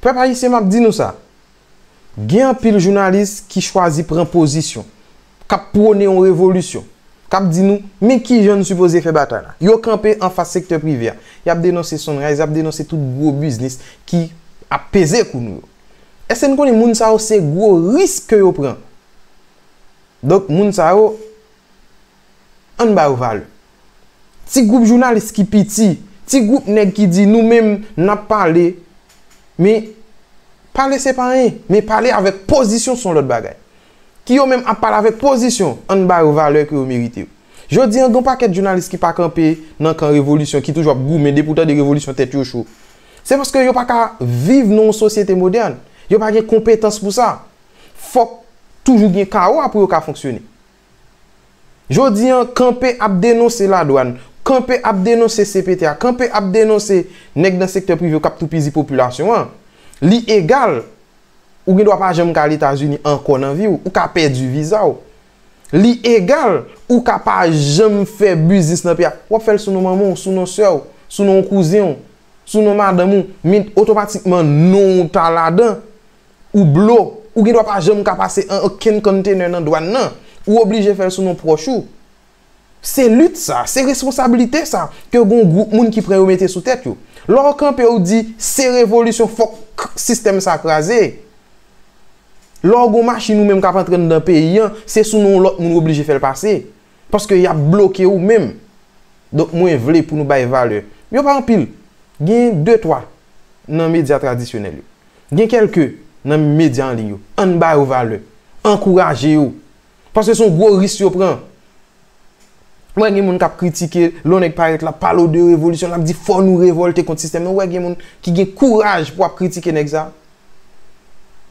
Pèp Ayisyen map di nou sa, gen anpil jounalis ki chwazi pran pozisyon, kap pwone yon revolisyon, kap di nou men kijan n sipoze fè batay la. Yo kanpe anfas sektè prive a, yap denonse Sunrise, yap denonse tout gwo biznis ki ap peze kou nou yo. Eske n konnen moun sa yo se gwo risk ke yo pran? Donk moun sa yo. ann ba yo valè. Ti gwoup jounalis ki piti, ti gwoup nèg ki di nou menm n ap pale, men pale se pa anyen, men pale avèk pozisyon s on lòt bagay. Ki yo menm ap pale avèk pozisyon, ann ba yo valè ke yo merite yo. Jodi an gen yon pakèt jounalis ki pa kanpe nan kan revolisyon, ki toujou ap goumen, depi w tande revolisyon tèt yo cho. Se paske yo pa ka viv nan yon sosyete modèn, yo pa gen konpetans pou sa. Fòk toujou gen kawo a pou yo ka fonksyone. Jodi an, kanpe ap denonse ladwann, kanpe ap denonse cpt a, kanpe ap denonse nèg nan sektè prive yo k ap toupizi popilasyon an. Li egal, ou gen dwa pa janm ka al Etazini ankò nan vi w, ou ka pèdi viza w. Li egal, ou ka pa janm fè biznis nan peyi a, w ap fè l sou non manman w, sou non sè w, sou non kouzen w, sou non madanm ou, men otomatikman non w ta ladan. Ou blo. Ou gen dwa pa janm ka pase an okenn container nan dwan nan. Ou oblije fè l sou non pwòch ou. Se lit sa, se responsablite sa ke gon gwoup moun ki pran yo mete sou tèt yo. Lè w kanpe w di se revolisyon fòk sistèm sa kraze. Lè w gon machin ou menm k ap antre anndan peyi an, se sou non w lòt moun w oblije fè l pase. Paske y ap bloke ou menm. Donk mwen vle pou nou bay valè. Yo pa anpil. Gen de twa nan medya tradisyonèl yo. Gen kèlke nan medya an liy yo. Ann ba yo valè. Ankouraje yo. Paske se yon gwo risk yo pran. Ou wè gen moun k ap kritike, lè yon nèg parèt l ap pale w de revolisyon, l ap di fò nou revòlte kont sistèm nan. Ou wè gen moun ki gen kouraj pou ap kritike nèg sa a.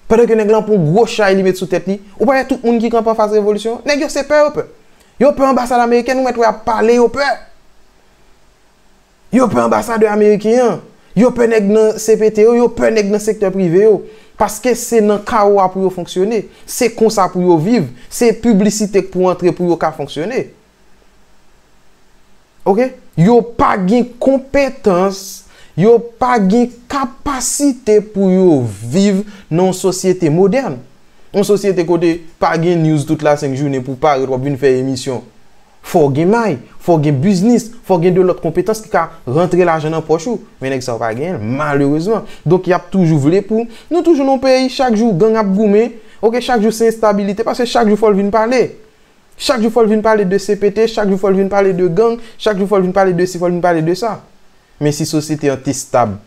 Pandan ke nèg lan ap pran yon gwo chay li met sou tèt li. Ou pa wè tout moun ki kanpe anfas revolisyon? Nèg yo se pè yo pè. Yo pè anbasad amerikèn, ou mèt wè y ap pale yo pè. Yo pè anbasadè ameriken an. Yo pè nèg nan CPT yo, yo pè nèg nan sektè prive yo. Paske se nan kawo a pou yo fonksyone. Se konsa pou yo viv. Se piblisite k pou antre pou yo ka fonksyone. Ok? Yo pa gen konpetans, yo pa gen kapasite pou yo viv nan yon sosyete modèn. Yon sosyete kote pa gen news tout la senk jounen pou w parèt w ap vin fè emisyon. Fò w gen may, fò w gen biznis, fò w gen de lòt konpetans ki ka rantre lajan nan pòch ou. Men nèg sa yo pa genyen l, malerezman. Donk y ap toujou vle pou Nou toujou nan yon peyi chak jou gang ap goumen, ok, chak jou se enstabilite paske chak jou fò l vin pale. Chak jou fò l vin pale de CPT, chak jou fò l vin pale de gang, chak jou fò l vin pale de si, fò l vin pale de sa. Men si sosyete an te stab.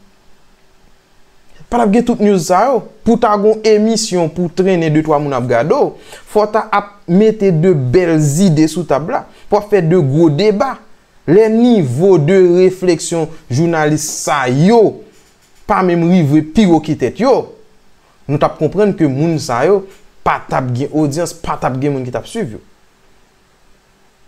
Patap gen tout news sa yo. Pou ta gon emisyon pou trennen de twa moun ap gade w, fò w ta ap mete de bèl zide sou tab la. Pou ap fè de gwo deba. Lè nivo de refleksyon jounalis sa yo pa menm rive pi wo ke tèt yo, nou tap konprann ke moun sa yo patap gen odyans, patap gen moun ki tap swiv yo.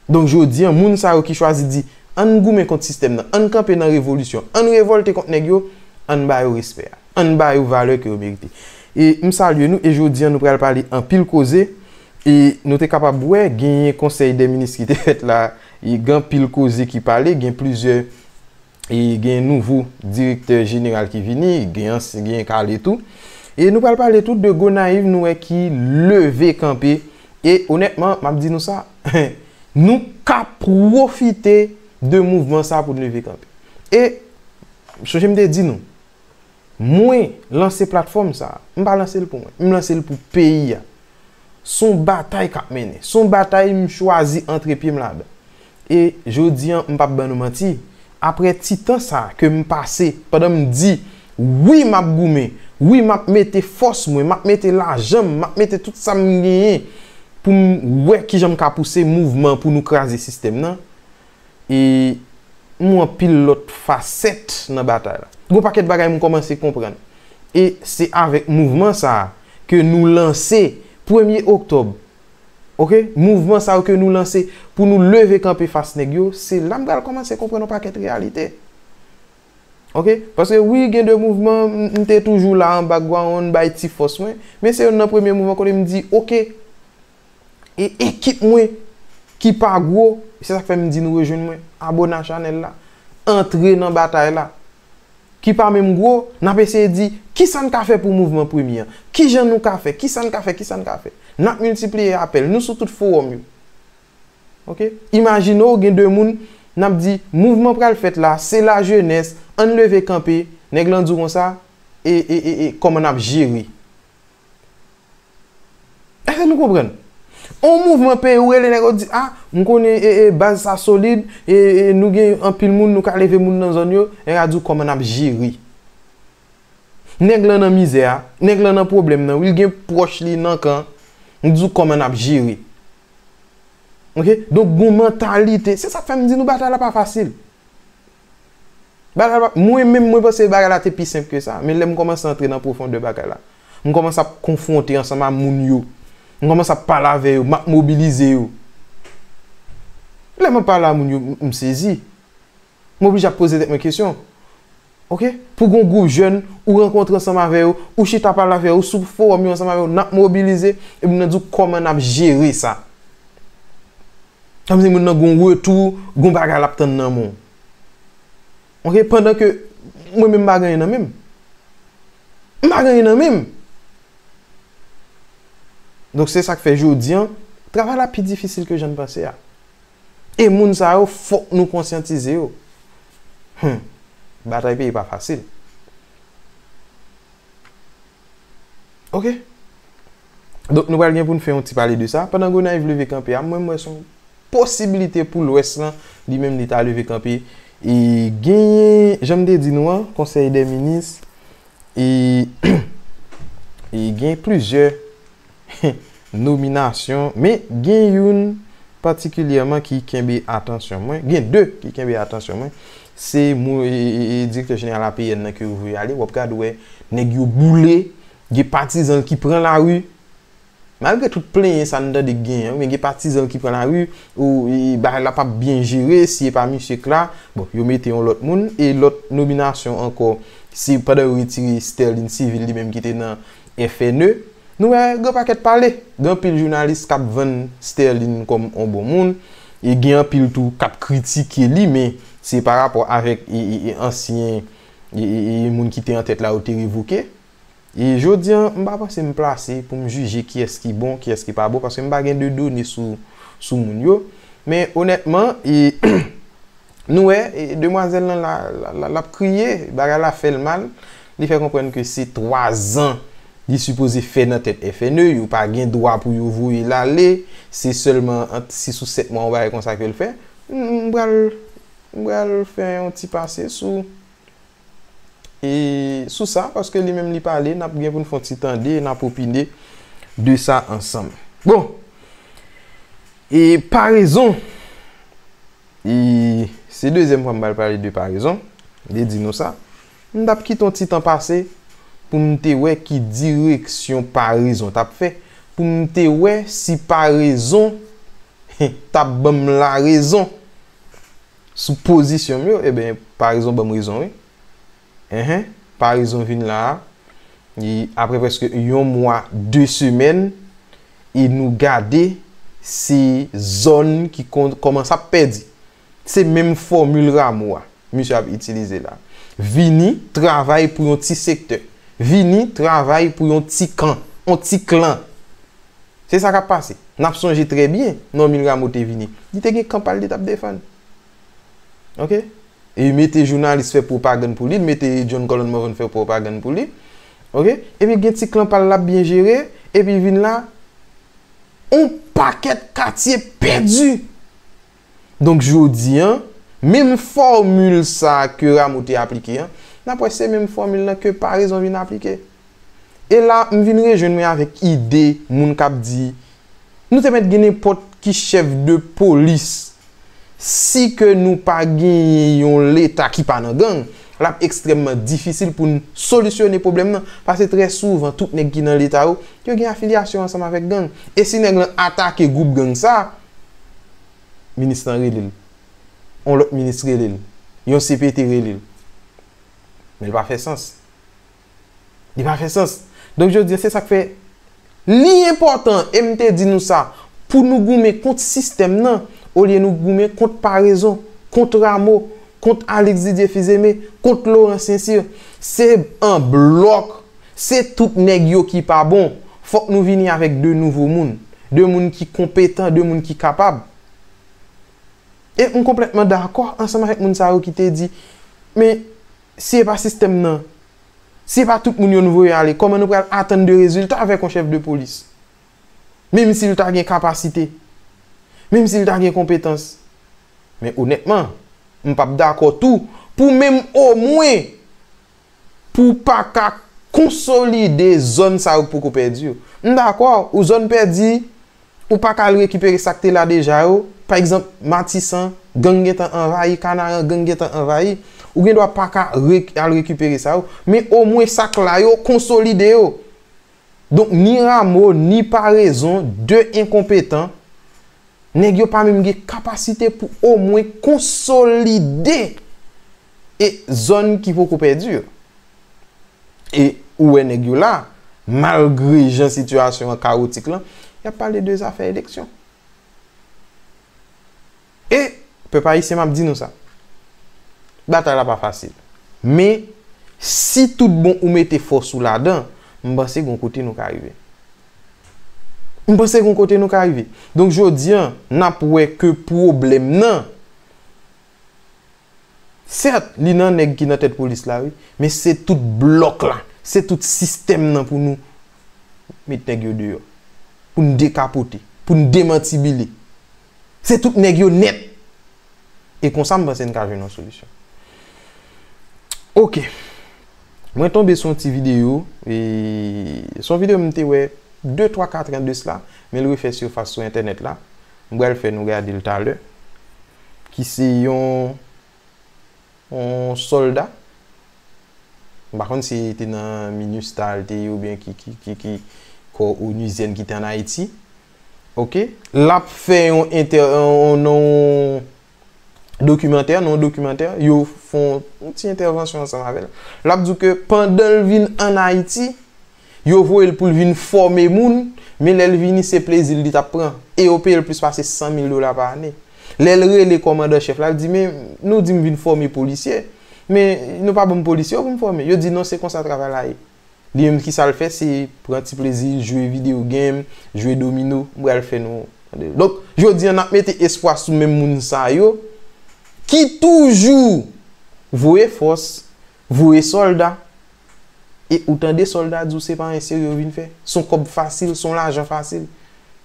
Donk jodi an, moun sa yo ki chwazi di, ann goumen kont sistèm nan, ann kanpe nan revolisyon, ann revòlte kont nèg yo, ann ba yo respè a. Ann ba yo valè ke yo merite. E m salye nou e jodi an nou pral pale anpil koze e nou te kapab wè genyen konsèy dè minis ki te fèt la e gen anpil koze ki pale, gen plizyè e gen nouvo direktè jeneral ki vini, gen ansyen gen kale tou. E nou pral pale tou de Gonayiv nou wè ki leve kanpe e onètman m ap di nou sa, nou ka pwofite de mouvman sa pou n leve kanpe. E m sonje m te di nou, Mwen lanse platfòm sa a. M pa lanse l pou mwen. M lanse l pou peyi a. S on batay k ap mennen. S on batay m chwazi antre pye m ladan. E jodi an, m p ap ban nou manti, aprè ti tan sa a ke m pase pandan m di, wi m ap goumen, wi m ap mete fòs mwen, m ap mete lajan m, m ap mete tout sa m genyen pou m wè kijan m ka pouse mouvman pou nou kraze sistèm nan, e m wè anpil lòt fasèt nan batay la. Gen yon pakèt bagay m kòmanse konprann. E se avèk mouvman sa a ke nou lanse premye oktòb. Ok, mouvman sa yo ke nou lanse pou nou leve kanpe fas nèg yo, se la m pral kòmanse konprann yon pakèt reyalite. Ok, paske wi gen de mouvman m te toujou la an background bay ti fòs mwen, men se youn nan premye mouvman kote m di ok. E ekip mwen ki pa gwo, se sak fè m di nou rejwenn mwen, abone a chanèl la, antre nan batay la. Ki pa menm gwo, n ap eseye di, kisa n ka fè pou mouvman premye an? Kijan nou ka fè? Kisa n ka fè? Kisa n ka fè? N ap miltipliye apèl, nou sou tout fowòm yo. Ok? Imajine w gen 2 moun, n ap di, mouvman pral fèt la, se la jenès, ann leve kanpe, nèg lan di w konsa, e, e, e, e, kòman n ap jere? Eske nou konprann? On mouvman peye ou rele nèg ou di a, m konnen e e baz sa solid, e e nou gen anpil moun nou ka leve moun nan zòn yo, nèg la di ou kòman nap jere. Nèg lan nan mizè a, nèg lan nan pwoblèm nan wi, l gen pwòch li nan kan, li di ou kòman nap jere. Ok, donk gon mantalite, se sak fè m di nou batay la pa fasil. Bagay la, mwen menm mwen panse bagay la te pi senp ke sa. Men lè m kòmanse antre nan pwofondè bagay la, m kòmanse ap konfwonte ansanm a moun yo, m kòmanse ap pale avè yo, m ap mobilize yo. Lè m ap pale a moun yo, m sezi. M oblije ap poze tèt mwen kesyon. Ok, pou gon gwoup jèn, ou rankontre ansanm avè yo, ou chita pale avè yo, ou sou fowòm yo ansanm avè yo, n ap mobilize, epi m nan di w kòman n ap jere sa. Sa vle di moun nan gon retou, gon bagay lap tann nan men w. Ok, pandan ke mwen menm m pa gen anyen nan men m. M pa gen anyen nan men m. Donk se sak fè jodi an, travay la pi difisil ke jan n panse a. E moun sa yo fòk nou konsyantize yo. Hum! Batay peyi pa fasil. Ok. Donk nou pral gen pou n fè yon ti pale de sa. Pandan Gonayiv leve kanpe a, mwen m wè son posibilite pou Lwès lan li menm li ta leve kanpe. E genyen, jan m te di nou an, konsèy dè minis e genyen plizyè. nominasyon, men gen youn patikilyèman ki kenbe atansyon mwen, gen 2 ki kenbe atansyon mwen, se direktè jeneral APN nan ke yo voye ale, w ap gad wè nèg yo boule, gen patizan l ki pran lari, malgre tout plenyen sa n tande k genyen, men gen patizan l ki pran lari, bagay la p ap byen jere, si e pa misye k la, bon, yo mete yon lòt moun, e lòt nominasyon ankò, se pandan yo retire Sterline Civil li menm ki te nan Infene, Nou wè gen yon pakèt pale. Gen anpil jounalis kap vann Sterline kòm yon bon moun. E gen anpil tou kap kritike li men se pa rapò avèk ansyen moun ki te antèt la yo te revoke. E jodi an, m pa panse m plase pou m jije kiyès ki bon, kiyès ki pa bon paske m pa gen de done sou moun yo. Men onètman e. Nou wè, demwazèl lan la, l ap kriye, bagay la fè l mal, li fè konprann ke se 3 zan li sipoze fè nan tèt FNE, yo pa gen dwa pou yo voye l ale, se sèlman ant 6 ou 7 mwa yon bagay konsa ke l fè. M pral, m pral fè yon ti pase sou E sou sa, paske li menm li pale, n ap gen pou n fè yon ti tande e n ap opine de sa ansanm. Bon, e parezon, e se dezyèm fwa m pral pale de parezon, m te di nou sa, m t ap kite yon ti tan pase pou m te wè ki direksyon parezon t ap fè, pou m te wè si parezon t ap ban m larezon. Sou pozisyon m yo eben paraison banm rezon wi enh paraison vin la a e aprè prèske yon mwa 2 semèn e nou gade se zòn ki kòmanse ap pèdi se menm fòmil Rameau a misye ap itilize la vini travay pou yon ti sektè vini travay pou yon ti kan yon ti klan Se sa k ap pase. N ap sonje trè byen, Normil Rameau te vini. Li te gen kan pa l li t ap defann. Ok? E li mete jounalis fè pwopagann pou li, li mete John Colon Morvan fè pwopagann pou li. Ok? Epi gen ti klan pa l l ap byen jere, epi vin la, yon pakèt katye pèdi! Donk jodi an, menm fòmil sa a ke Rameau te aplike an, n ap wè se menm fòmil lan ke Paraison vin aplike. E la, m vin rejwenn mwen avèk ide moun k ap di, nou te mèt gen nenpòt ki chèf de polis, si ke nou pa genyen yon Leta ki pa nan gang, l ap ekstrèmman difisil pou n solisyone pwoblèm lan, paske trè souvan tout nèg ki nan Leta yo, yo gen afilyasyon ansanm avèk gang. E si nèg lan atake gwoup gang sa a, minis lan rele l, yon lòt minis rele l, yon CPT rele l. Men l pa fè sans. Li pa fè sans. Donk jodi a se sa k fè li enpòtan, e m te di nou sa, pou nou goumen kont sistèm nan olye nou goumen kont Paraison, kont Rameau, kont Alix Didier Fils-Aimé, kont Laurent Sincir. Se an blòk Se tout nèg yo ki pa bon. Fòk nou vini avèk 2 nouvo moun. 2 moun ki konpetan, 2 moun ki kapab. E m konplètman dakò ansanm avèk moun sa yo ki te di, men, si e pa sistèm nan, si e pa tout moun yo nou voye ale, kòman nou pral atann de rezilta avèk yon chèf de polis? Menm si l ta gen kapasite, menm si l ta gen konpetans. Men onètman, m p ap dakò tou pou menm omwen Pou w pa ka konsolide zòn sa yo k poko pèdi yo. M dakò, ou zòn pèdi, ou pa ka al rekipere sa k te la deja yo, pa egzanp, Matisan, gang gentan anvayi, Kanaran, gang gentan anvayi. Ou gen dwa pa ka al rekipere sa yo, men omwen sa k la yo, konsolide yo. Donk, ni Ramo, ni Parezon, 2 enkonpetan, nèg yo pa menm gen kapasite pou omwen konsolide E zòn ki poko pèdi yo. E ou wè nèg yo la, malgre jan sitiyasyon an kawotik lan, y ap pale de zafè eleksyon. E, pèp ayisyen m ap di nou sa, batay la pa fasil. Men, si tout bon ou mete fòs ou ladan, m panse gen yon kote nou ka rive. M panse gen yon kote nou ka rive. Donk jodi an, n ap wè ke pwoblèm nan, Sèt, li nan nèg ki nan tèt polis la wi, men se tout blòk la, se tout sistèm nan pou nou met nèg yo deyò. Pou n dekapote, pou n demantibile. Se tout nèg yo nèt! E konsa m panse n ka jwenn yon solisyon. Ok. Mwen tonbe sou yon ti videyo, e son videyo m te wè de twa katran de sla, men l refè sifas sou entènèt la. M pral fè nou gade l talè. Ki se yon yon sòlda. M pa konn si li te nan minustah li te ye oubyen ki ki ki ki kò onuzyèn ki te an Ayiti. Ok. L ap fè yon entè yon yon dokimantè, nan yon dokimantè, yo fon yon ti entèvansyon ansanm avè l. L ap di w ke pandan l vin ann Ayiti, yo voye l pou l vin fòme moun, men lè l vini se plezi l li t ap pran. E yo peye l plis pase 100 mil dola pa ane. Lè l rele kòmandan chèf la, l di, men, nou di m vin fòme polisye, men nou pa ban m polisye yo pou m fòme. Yo di, non, se konsa travay la ye. Li menm ki sa l fè se pran ti plezi l jwe video game, jwe domino. M pral fè nou tande l. Donk, jodi an n ap mete espwa sou menm moun sa yo ki toujou voye fòs, voye sòlda e ou tande sòlda di w se pa anyen serye yo vin fè. S on kòb fasil, s on lajan fasil.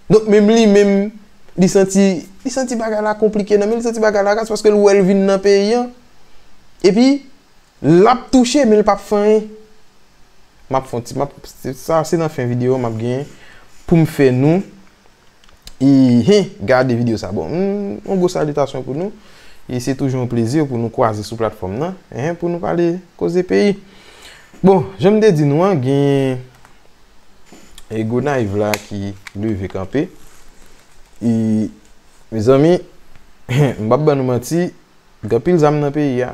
Donk, menm li menm li santi, li santi bagay la konplike nan men l, li santi bagay la raz paske l wè l vin nan peyi an. Epi, Lap touche men li pap fè anyen. Map fon ti map sa se nan fen video map gen poum fè nou e he gade video sa bon yon gwo salitasyon pou nou e se toujou yon plezi pou nou kwaze sou platfòm nan he pou nou pale koze peyi bon janm te di nou an gen e Gonayiv la ki leve kanpe e mezanmi he m pap ban nou manti Gen pil zam nan peyi a.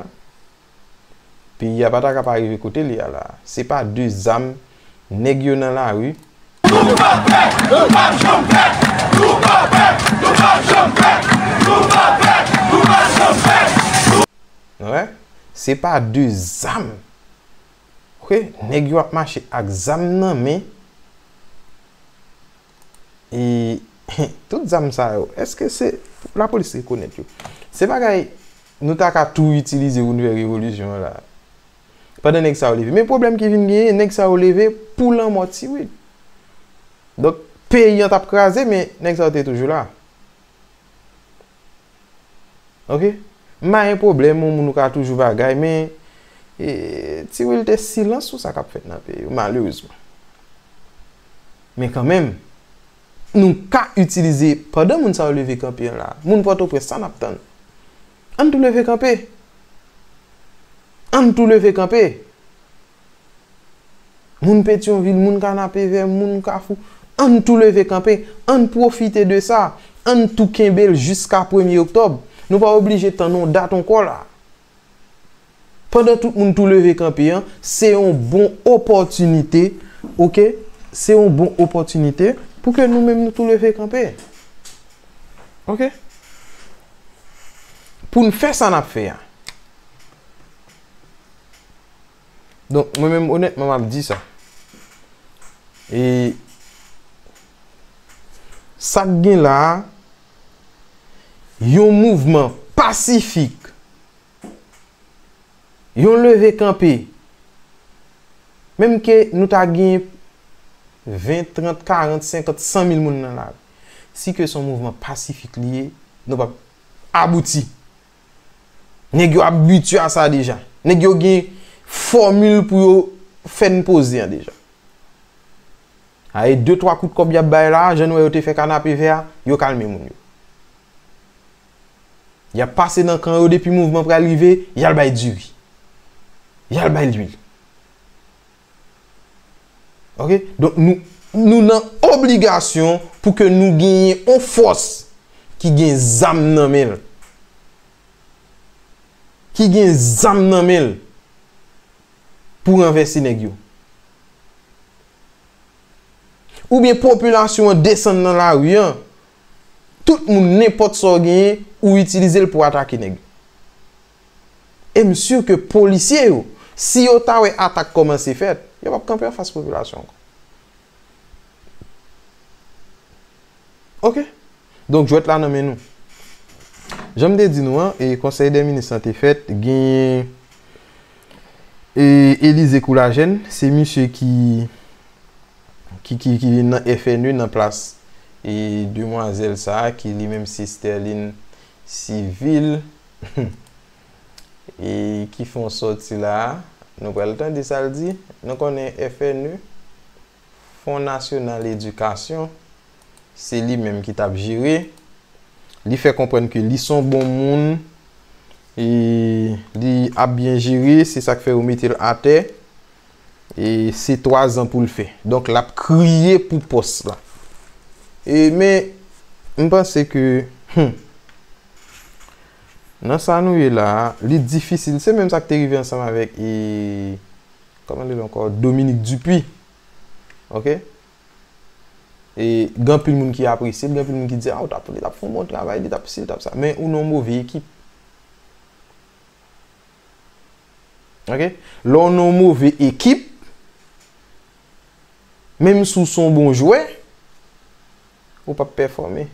Peyi a pa ta ka pa rive kote li a la. Se pa de zam nèg yo nan lari. Nou pa pè, nou pap janm pè. Nou pa pè, nou pap janm pè. Nou pa pè, nou pap janm pè. Nou wè? Se pa de zam Ok neg yo ap mache ak zam nan men e tout zam sa yo eske se pou la polis rekonet yo se bagay nou ta ka tou itilize pou nou fè revolisyon la pandan neg sa yo leve men problem ki vin genyen neg sa yo leve pou lanmo ti wid donk peyi an tap kraze men neg sa yo te toujou la. Ok? M pa gen pwoblèm ou moun ou ka toujou bagay men e Ti Wil te silans sou sa k ap fèt nan peyi yo malerezman. Men kanmenm nou ka itilize pandan moun sa yo leve kanpe an la a, moun Pòtoprens sa n ap tann? Ann tou leve kanpe! Ann tou leve kanpe! Moun Petyonvil, moun Kanapevè, moun Kafou, ann tou leve kanpe! Ann pwofite de sa! Ann tou kenbe l jiska premye oktòb! Nou pa oblije tann yon dat ankò la! Pandan tout moun tou leve kanpe an, se yon bon opòtinite, ok, se yon bon opòtinite pou ke nou menm nou tou leve kanpe. Ok? Pou n fè sa n ap fè a. Donk, mwen menm onètman m ap di sa. E, sa k gen la a, yon mouvman pasifik, Yon leve kanpe. Menm ke nou ta gen 20, 30, 40, 50, 100 mil moun nan lari. Si ke son mouvman pasifik li ye, nou pap abouti. Nèg yo abitye a sa deja. Nèg yo gen fòmil pou yo fè n poze an deja. A e 2, 3 kout kòb y ap bay la, jan nou wè yo te fè kanapevè a, yo kalme moun yo. Yap pase nan kan yo depi mouvman pral rive yal bay diri. Yal bay lwil. Ok donk nou nou nan obligasyon pou ke nou genyen yon fòs ki gen zam nan menl. Ki gen zam nan menl pou ranvèse nèg yo. Oubyen popilasyon an desann nan lari an. Tout moun nenpòt sa w genyen ou itilize l pou atake nèg. E m sur ke polisye yo si yo ta wè atak kòmanse fèt, yo pap kanpe anfas popilasyon ankò. Ok. Donk jwèt la nan men nou. Jan m te di nou an, e konsèy dè minis lan te fèt, genyen e Elize Koulajèn, se misye ki. Ki ki ki vin nan FNE nan plas e demwazèl sa a ki li menm se Sterline Civil humm e ki fè yon sòti la a. Nou pral tande sa l di. Nou konnen FNE, Fon Nasyonal Edikasyon, se li menm ki t ap jere. Li fè konprann ke li s on bon moun e li ap byen jere. Se sa k fè yo mete l atè. E se 3 zan pou l fè. Donk l ap kriye pou pòs la. E men, m panse ke, hum, nan sa nou ye la, li difisil. Se menm sa k te rive ansanm avèk e, kòman l rele ankò, Dominique Dupuy. Ok? E gen anpil moun ki apresye l, gen anpil moun ki di, a, ou ta pou li, li t ap fè yon bon travay, li t ap si, li t ap sa. Men ou nan yon move ekip. Ok lè w nan yon move ekip menm si w son bon jwè ou pap pèfòme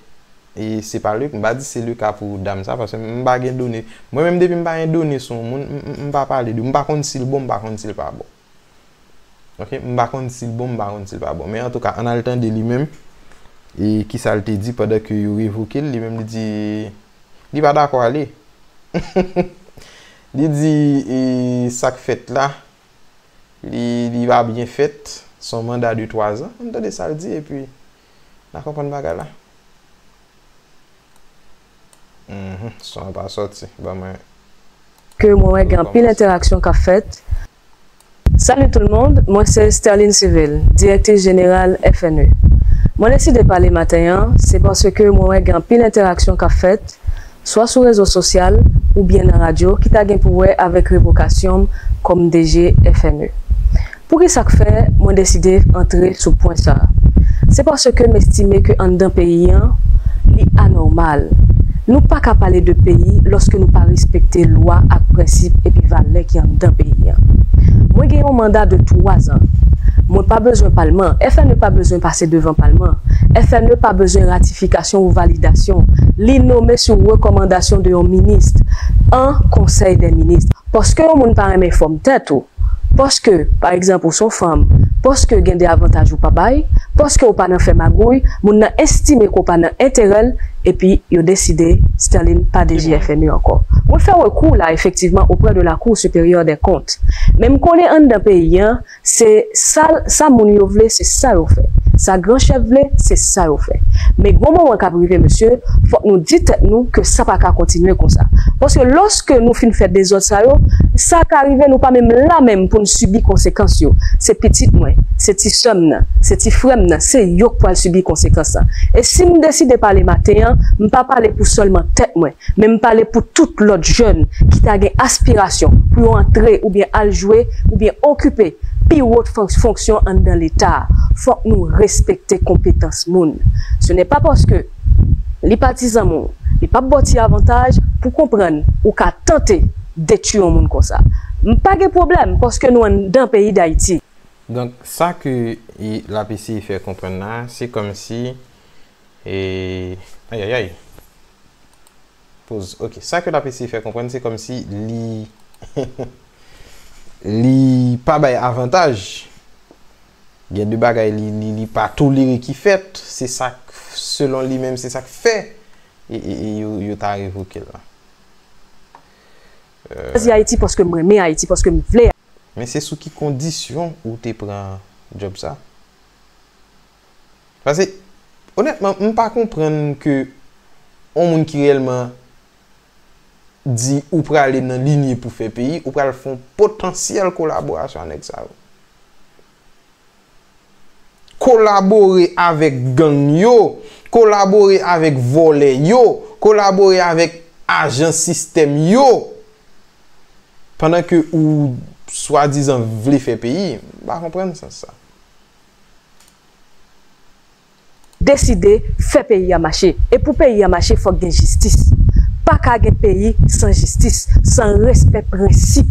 e se pa m pa di se le ka pou dam sa paske m pa gen done mwen menm depi m pa gen done sou yon moun m pa pale de m pa konn si l bon m pa konn si l pa bon. Ok m pa konn sil bon m pa konn sil pa bon men antouka ann al tande li menm e kisal te di pandan ke yo revoke l li menm li di li pa dakò ale li di e sak fèt la li pa byen fèt son manda de 3 zan ann tande sal di epi. Na konprann bagay la. Uhmm son an pa soti ban mwen. Ke mwen wè gen anpil entèraksyon kap fèt. Salut tout le monde, mwen se Sterline Civil, direktris jeneral FNE. Mwen deside pale maten an, se paske mwen wè gen anpil entèraksyon kap fèt, swa sou rezo sosyal oubyen nan radyo ki ta gen pou wè avèk revokasyon m kòm DG FME. Poukisa k fè mwen deside antre sou pwen sa a? Se paske m estime ke anndan peyi an, li anòmal. Nou pa ka pale de peyi lòske nou pa respekte lwa ak prensip epi valè ki anndan peyi an. Mwen gen yon manda de twa zan. Mwen pa bezwen palman, FME pa bezwen pase devan palman, FME pa bezwen ratifikasyon. nominasyon ou validasyon li nome sou rekomandasyon de yon minist an konsèy dè minist paske yon moun pa renmen fòm tèt ou paske pa egzanp ou son fanm paske gen de avantaj ou pa bay paske ou pa nan fè magouy moun nan estime ke w pa nan enterè l epi yo deside Sterline pa DG FMI ankò mwen fè rekou la efektivman oprè de lakou siperyè dè kont men m konnen anndan peyi an Se sa l, sa moun yo vle se sa yo fè. Sa gran chèf vle se sa yo fè. Men gon moman kap rive mesye, fòk nou di tèt nou ke sa pa ka kontinye konsa. Paske lòske nou fin fè dezòd sa yo, sa ka rive nou pa menm la menm pou n sibi konsekans yo. Se pitit mwen, se ti sè m nan, se ti frè m nan, se yo k pwal sibi konsekans lan. E si m deside pale maten an, m pa pale pou sèlman tèt mwen, Men m pale pou tout lòt jèn ki ta gen aspirasyon pou yo antre oubyen al jwe oubyen okipe pi wo fonksyon anndan Leta a. Fòk nou respekte konpetans moun. Se nè pa paske li pa ti zanmi w, li pa p ba w ti avantaj pou konprann ou ka tante detui yon moun konsa. M pa gen pwoblèm paske nou anndan peyi Dayiti. Donk sa ke l ap eseye fè konprann la a, se kòmsi E ayayay poz ok sa ke lap eseye fè konprann se komsi li li pa bay avantaj gen de bagay li li pa tolere ki fèt se sak selon li menm se sak fè e yo ta revoke l lan. Chwazi Ayiti paske m renmen Ayiti paske m vle. Men se sou ki kondisyon ou te pran djob sa? Pase, onètman, m pa konprann ke yon moun ki reyèlman di ou prale nan linye pou fè peyi, ou pral fè yon potansyèl kolaborasyon a nèg sa yo. Kolabore avèk gang yo, kolabore avèk vòlè yo, kolabore avèk ajan sistèm yo, pandan ke ou swadizan vle fè peyi, m pa konprann sans sa. Deside fè peyi a mache. E pou peyi a mache fòk gen jistis. Pa ka gen peyi san jistis, san respè prensip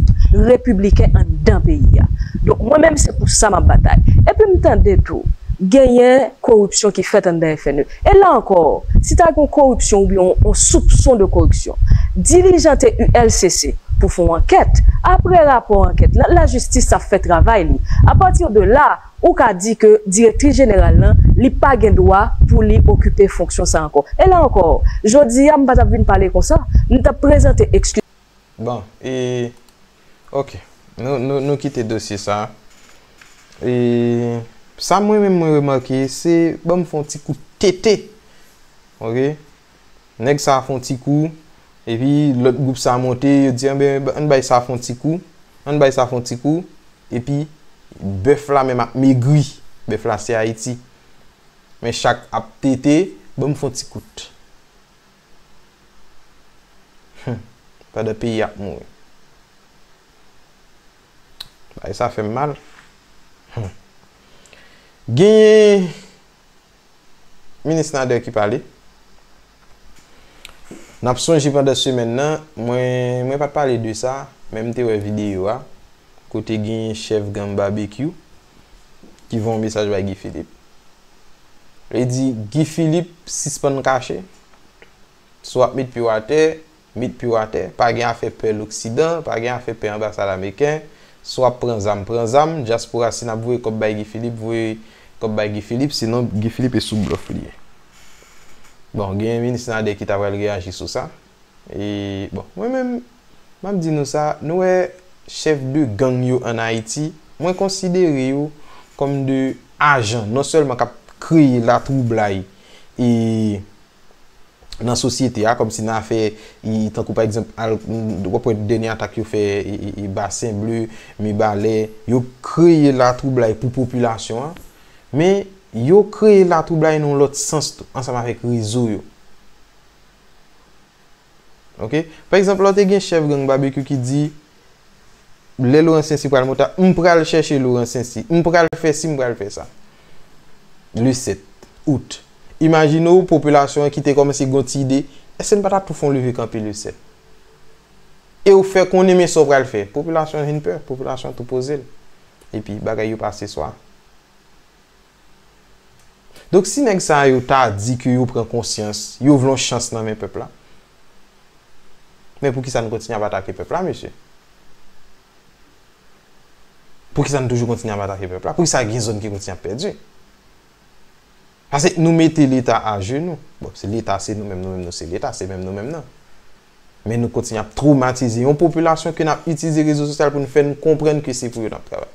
repibliken anndan peyi a. Donk mwen menm se pou sa m ap batay. Epi m tande tou genyen koripsyon ki fèt anndan FNE. E la ankò, si ta gen yon koripsyon oubyen yon soupson de koripsyon, dilijante ULCC pou fè yon ankèt, aprè rapò ankèt la, lajistis ap fè travay li. A pati de la, ou ka di ke direktris jeneral lan, li pa gen dwa pou li okipe fonksyon sa ankò. E la ankò, jodi a, m pa t ap vin pale konsa, m t ap prezante ekskiz. Bon, e, ok, nou, nou, nou kite dosye sa a. E, sa mwen menm mwen remake, se ban m fè yon ti kou tete. Ok? Nèg sa a fè yon ti kou, epi lòt gwoup sa a monte, yo di, anben, ann bay sa a fè yon ti kou, ann bay sa a fè yon ti kou, epi bèf la menm ap megri. Bèf la se Ayiti. Men chak ap tete, ban m fè yon ti kout. Humm pandan peyi ap mouri. Bagay sa fèm mal. Humm. Genyen Minis Nader ki pale. Nap sonje pandan semèn nan, mwen mwen pat pale de sa, men m te wè videyo a, kote genyen chèf gang Babekyou ki voye yon mesaj bay Guy Philippe. Li di, Guy Philippe sispann kache, si w ap met pye w atè, met pye w atè, pa gen afè pè loksidan, pa gen afè pè anbasad ameriken, si w ap pran zam, pran zam, dyaspora si n ap voye kòb bay Guy Philippe, voye kòb bay Guy Philippe, sinon Guy Philippe e sou blòf li ye. Bon, gen Minis Nader ki ta pral reyaji sou sa. E bon mwen menm map di nou sa nou wè chèf de gang yo an Ayiti mwen konsidere yo kòm de ajan non sèlman kap kreye la twoublay e nan sosyete a kòm si nan afè e tankou pa egzanp al wap wè dènye atak yo fè e basen ble mibalè yo kreye la twoublay pou popilasyon an men yo kreye la twoublay nan yon lòt sans tou ansanm avèk rezo yo. Ok pa egzanp lò te gen chèf gang babekyou ki di lè Laurent Saincy pral monte avyon m pral chèche Laurent Saincy m pral fè si m pral fè sa le 7 out imajine w popilasyon an ki te kòmanse gen yon ti ide èske n pa ta tou fè yon leve kanpe le 7 e w fè konnen men sa w pral fè popilasyon an vin pè popilasyon an tou poze l epi bagay yo pase swa. Donk si nèg sa yo ta di ke yo pran konsyans, yo vle yon chans nan men pèp la, men pou ki sa nou kontinye ap atake pèp la mesye? Pou ki sa nou toujou kontinye ap atake pèp la? Pou ki sa gen zòn ki kontinye ap pèdi? Pase nou mete leta ajenou. Bon, se leta se nou menm, nou menm nou se leta, se menm nou menm nan. Men nou kontinye ap twomatize yon popilasyon ke nap itilize rezo sosyal pou nou fè nou konprann ke se pou yo nap travay.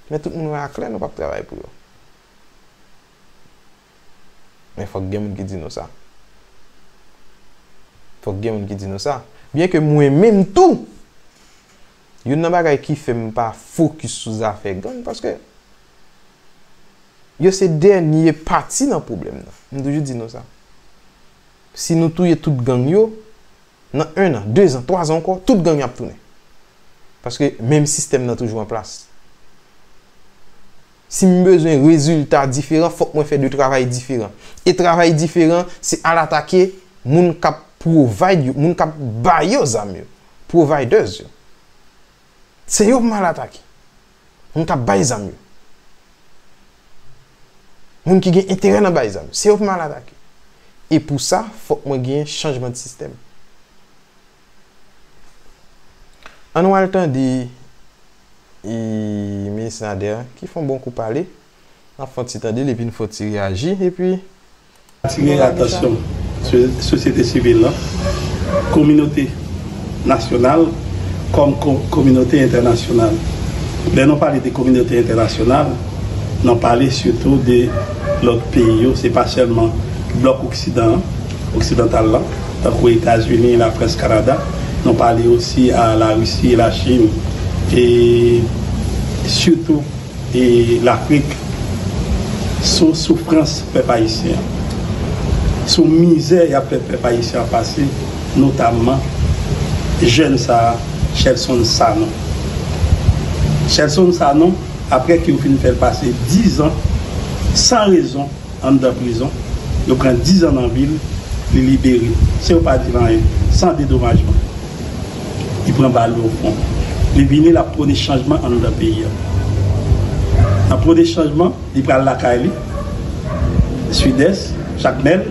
Men tout moun wè a klè nou pap travay pou yo. Men fòk gen moun ki di nou sa. Fòk gen moun ki di nou sa. Byen ke mwen menm tou, youn nan bagay ki fè m pa fokis sou zafè gang, paske yo se dènye pati nan pwoblèm nan. M toujou di nou sa. Si nou touye tout gang yo, nan 1 an, 2 zan, 3 zan ankò, tout gang yo ap tounen. Paske menm sistèm nan toujou an plas. Si m bezwen rezilta diferan, fòk mwen fè 2 travay diferan. E travay diferan, se al atake moun k ap provide yo, moun k ap ba yo zam yo, providers yo. Se yo pou m al atake. Moun kap bay zam yo. Moun ki gen enterè nan bay zam. Se yo pou m al atake. E pou sa, fòk mwen gen chanjman de sistèm. An nou al tande Minis Nader ki fon bon kou pale. N ap fon ti tande l epi n fon ti reyaji. Atire atansyon sosyete sivil la, kominote nasyonal kòm kominote entènasyonal. Lè nou pale de kominote entènasyonal, nan pale sitou de lòt peyi yo, se pa sèlman blòk oksidan an, oksidantal la, tankou Etazini, Lafrans, Kanada, nou pale osi a Larisi, Lachin e sitou. E lafrik sou soufrans pèp ayisyen an sou mizè yap fè pèp ayisyen an pase notamman jèn sa Shelson Sanon Shelson Sanon aprè ke yo fin fèl pase 10 ans san rezon. Anndan prizon, yo pran dizan nan vil, li libere, se yo pa di l anyen, san dedomajman. Li pran bal nan fwon. Li vini, l ap pwone chanjman anndan peyi a. Nan pwone chanjman, li pral lakay li, Sidès, Jakmèl,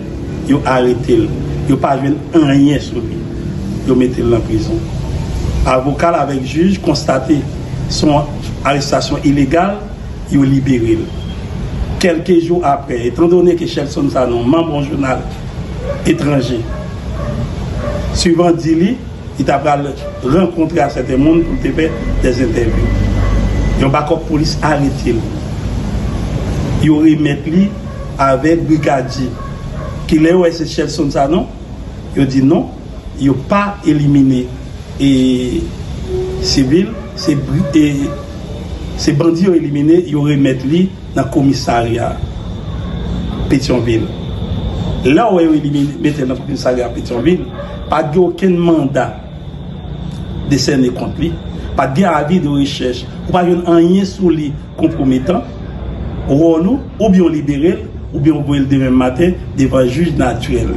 yo arete l. Yo pa jwenn anyen sou li. Yo mete l nan prizon. Avoka l avèk jij konstate se yon arestasyon ilegal. yo libere l. Kèlke jou aprè, etandone ke Shelson Sanon manb yon jounal etranje, Suvan di li, li ta pral rankontre ak sèten moun pou l te fè dè zentèvyou. Yon bakòp polis arete l. Yo remèt li avèk brigadye ki lè yo wè se Shelson Sanon, yo di non. Yo pa elimine e civil se e se bandi yo elimine yo remet li nan komisaria petion vil lè wè yo elimine metel nan komisaria petion vil pat gen oken manda desène kont li pat gen avi de rechèch ou pa jwenn anyen sou li konpwometan, wòl ou, oubyen ou libere l, oubyen ou voye l demen maten devan jij natirèl.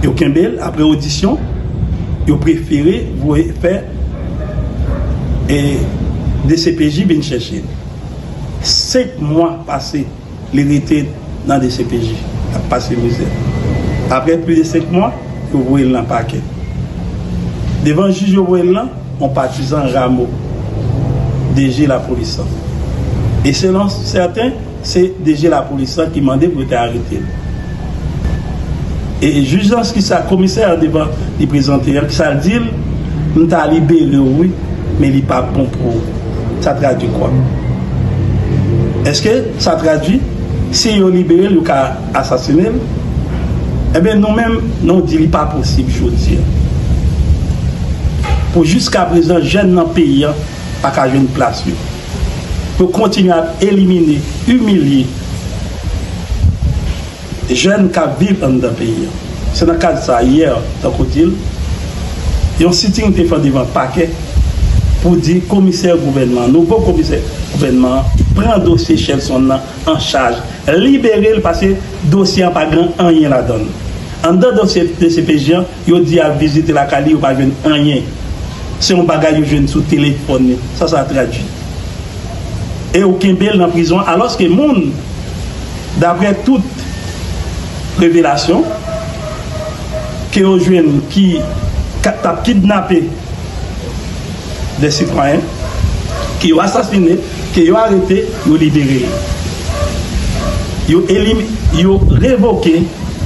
Yo kenbe l apre odisyon, yo prefere voye fè dcpj vin chèche l. 5 mwa pase. Li rete nan dcpj ap pase mizè. Aprè plis de 5 mwa, yo voye l nan pakè. Devan jij yo voye l lan, yon patizan Ramo, DG lapolis lan. E selon sèten, se DG lapolis lan ki mande pou yo te arete l. E jij lan ki sa komisè an devan li prezante an ki sa l di l, m ta libere w wi men li pa bon pou ou. Sa tradui kwa? Eske sa tradui si yo libere l yo ka asasine l? Enben nou menm nou di li pa posib jodi an. Pou jiskaprezan jèn nan peyi an pa ka jwenn plas yo. pou kontinye ap elimine, imilye jèn k ap viv anndan peyi an. Se nan kad sa, yè, tankou w di l, yon sitting te fè devan pakè pou di komisè gouvènman, nouvo komisè gouvènman an pran dosye Shelson nan an chaj, libere l pase dosye an pa gen anyen ladan l. Anndan dosye dcpj an, Yo di yap vizite lakay li yo pa jwenn anyen se yon bagay yo jwenn sou telefòn li sa sa tradwi e ou kenbel nan prizon alòske moun daprè tout revelasyon ke yo jwenn ki tap kidnape de sitwayen ki yo asasine. Ke yo arete, yo libere li. Yo elim, yo revoke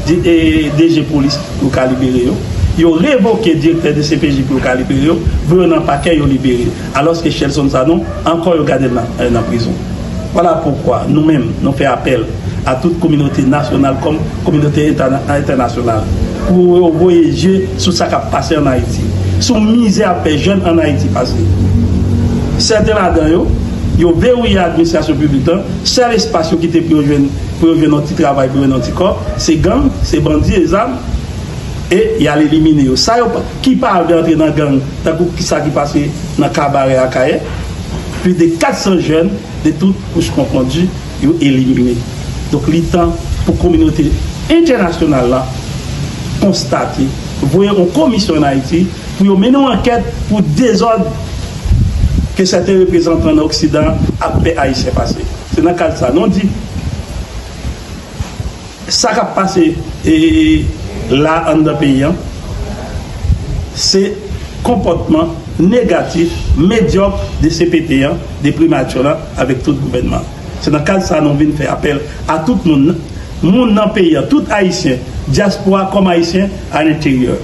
DG polis pou yo ka libere yo. Yo revoke direktè dcpj pou yo ka libere yo. Voye yo nan pakè, yo libere. Alòske Shelson Sanon, ankò yo gade l nan prizon. Vwala poukwa, nou menm, nou fè apèl. a tout kominote nasyonal kòm kominote entènasyonal pou yo voye je sou sa k ap pase ann Ayiti. Se yon mizè ap fè jèn ann Ayiti pase. Sèten ladan yo, yo verouye administrasyon piblik lan, sèl espas yo kite pou yo jwenn pou yo jwenn yon ti travay pou yo jwenn yon ti kòb, se gang, se bandi e zam e y al elimine yo. Sa yo pa ki pa vle antre nan gang tankou sa ki pase nan Kabarè Akayè, plis de 400 jèn de tout kouch konfondi, yo elimine. Donk li tan pou kominote entènasyonal la konstate, voye yon komisyon an Ayiti pou yo mennen yon ankèt pou dezòd ke sèten reprezantan nan oksidan ap fè ayisyen pase. Se nan kad sa nou di. Sa kap pase la anndan peyi an se konpòtman negatif medyòk de cpt an, de primature lan avèk tout gouvènman an. Se nan kad sa nou vin fè apèl a tout moun, moun nan peyi an, tout ayisyen, dyaspora kòm ayisyen alenteryè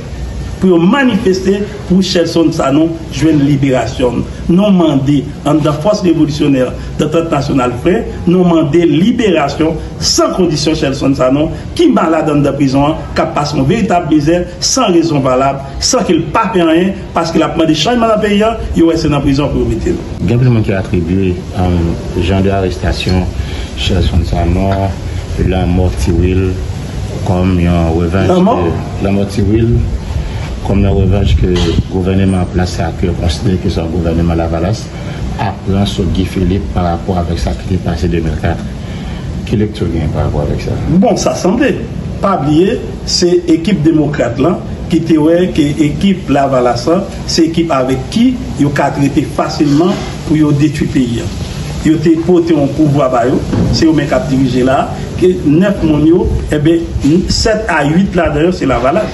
pou yo manifeste. Pou Sherlson Sanon jwenn liberasyon l. Nou mande, anndan Fòs Revolisyonè Dantant Nasyonal Frè, nou mande liberasyon san kondisyon Sherlson Sanon ki malad anndan prizon an, k ap pase yon veritab mizè san rezon valab, san ke l pa fè anyen, paske l ap mande chanjman nan peyi an, yo wè se nan prizon pou yo mete l. Gen plis moun ki atribye jan de arestasyon Sherlson Sanon, lanmò Ti Wil kòm yon revanch ke. Lanmò Ti Wil, kòm yon revanch ke gouvèneman an plas la ke yo konsidere ke se yon gouvèneman Lavalas, ap pran sou Guy Philippe pa rapò avèk sa ki te pase 2004. Ki lekti w genyen pa rapò avèk sa? Bon, sa sanble. Pa bliye, se ekip demokrat lan ki te wè ke ekip Lavalas lan se ekip avèk ki yo ka trete fasilman Pou yo detwi peyi an. Yo te pote yon pouvwa ba yo, se yo menm kap dirije la a, ke 9 moun yo, enben 7 a 8 ladan yo se lavalas.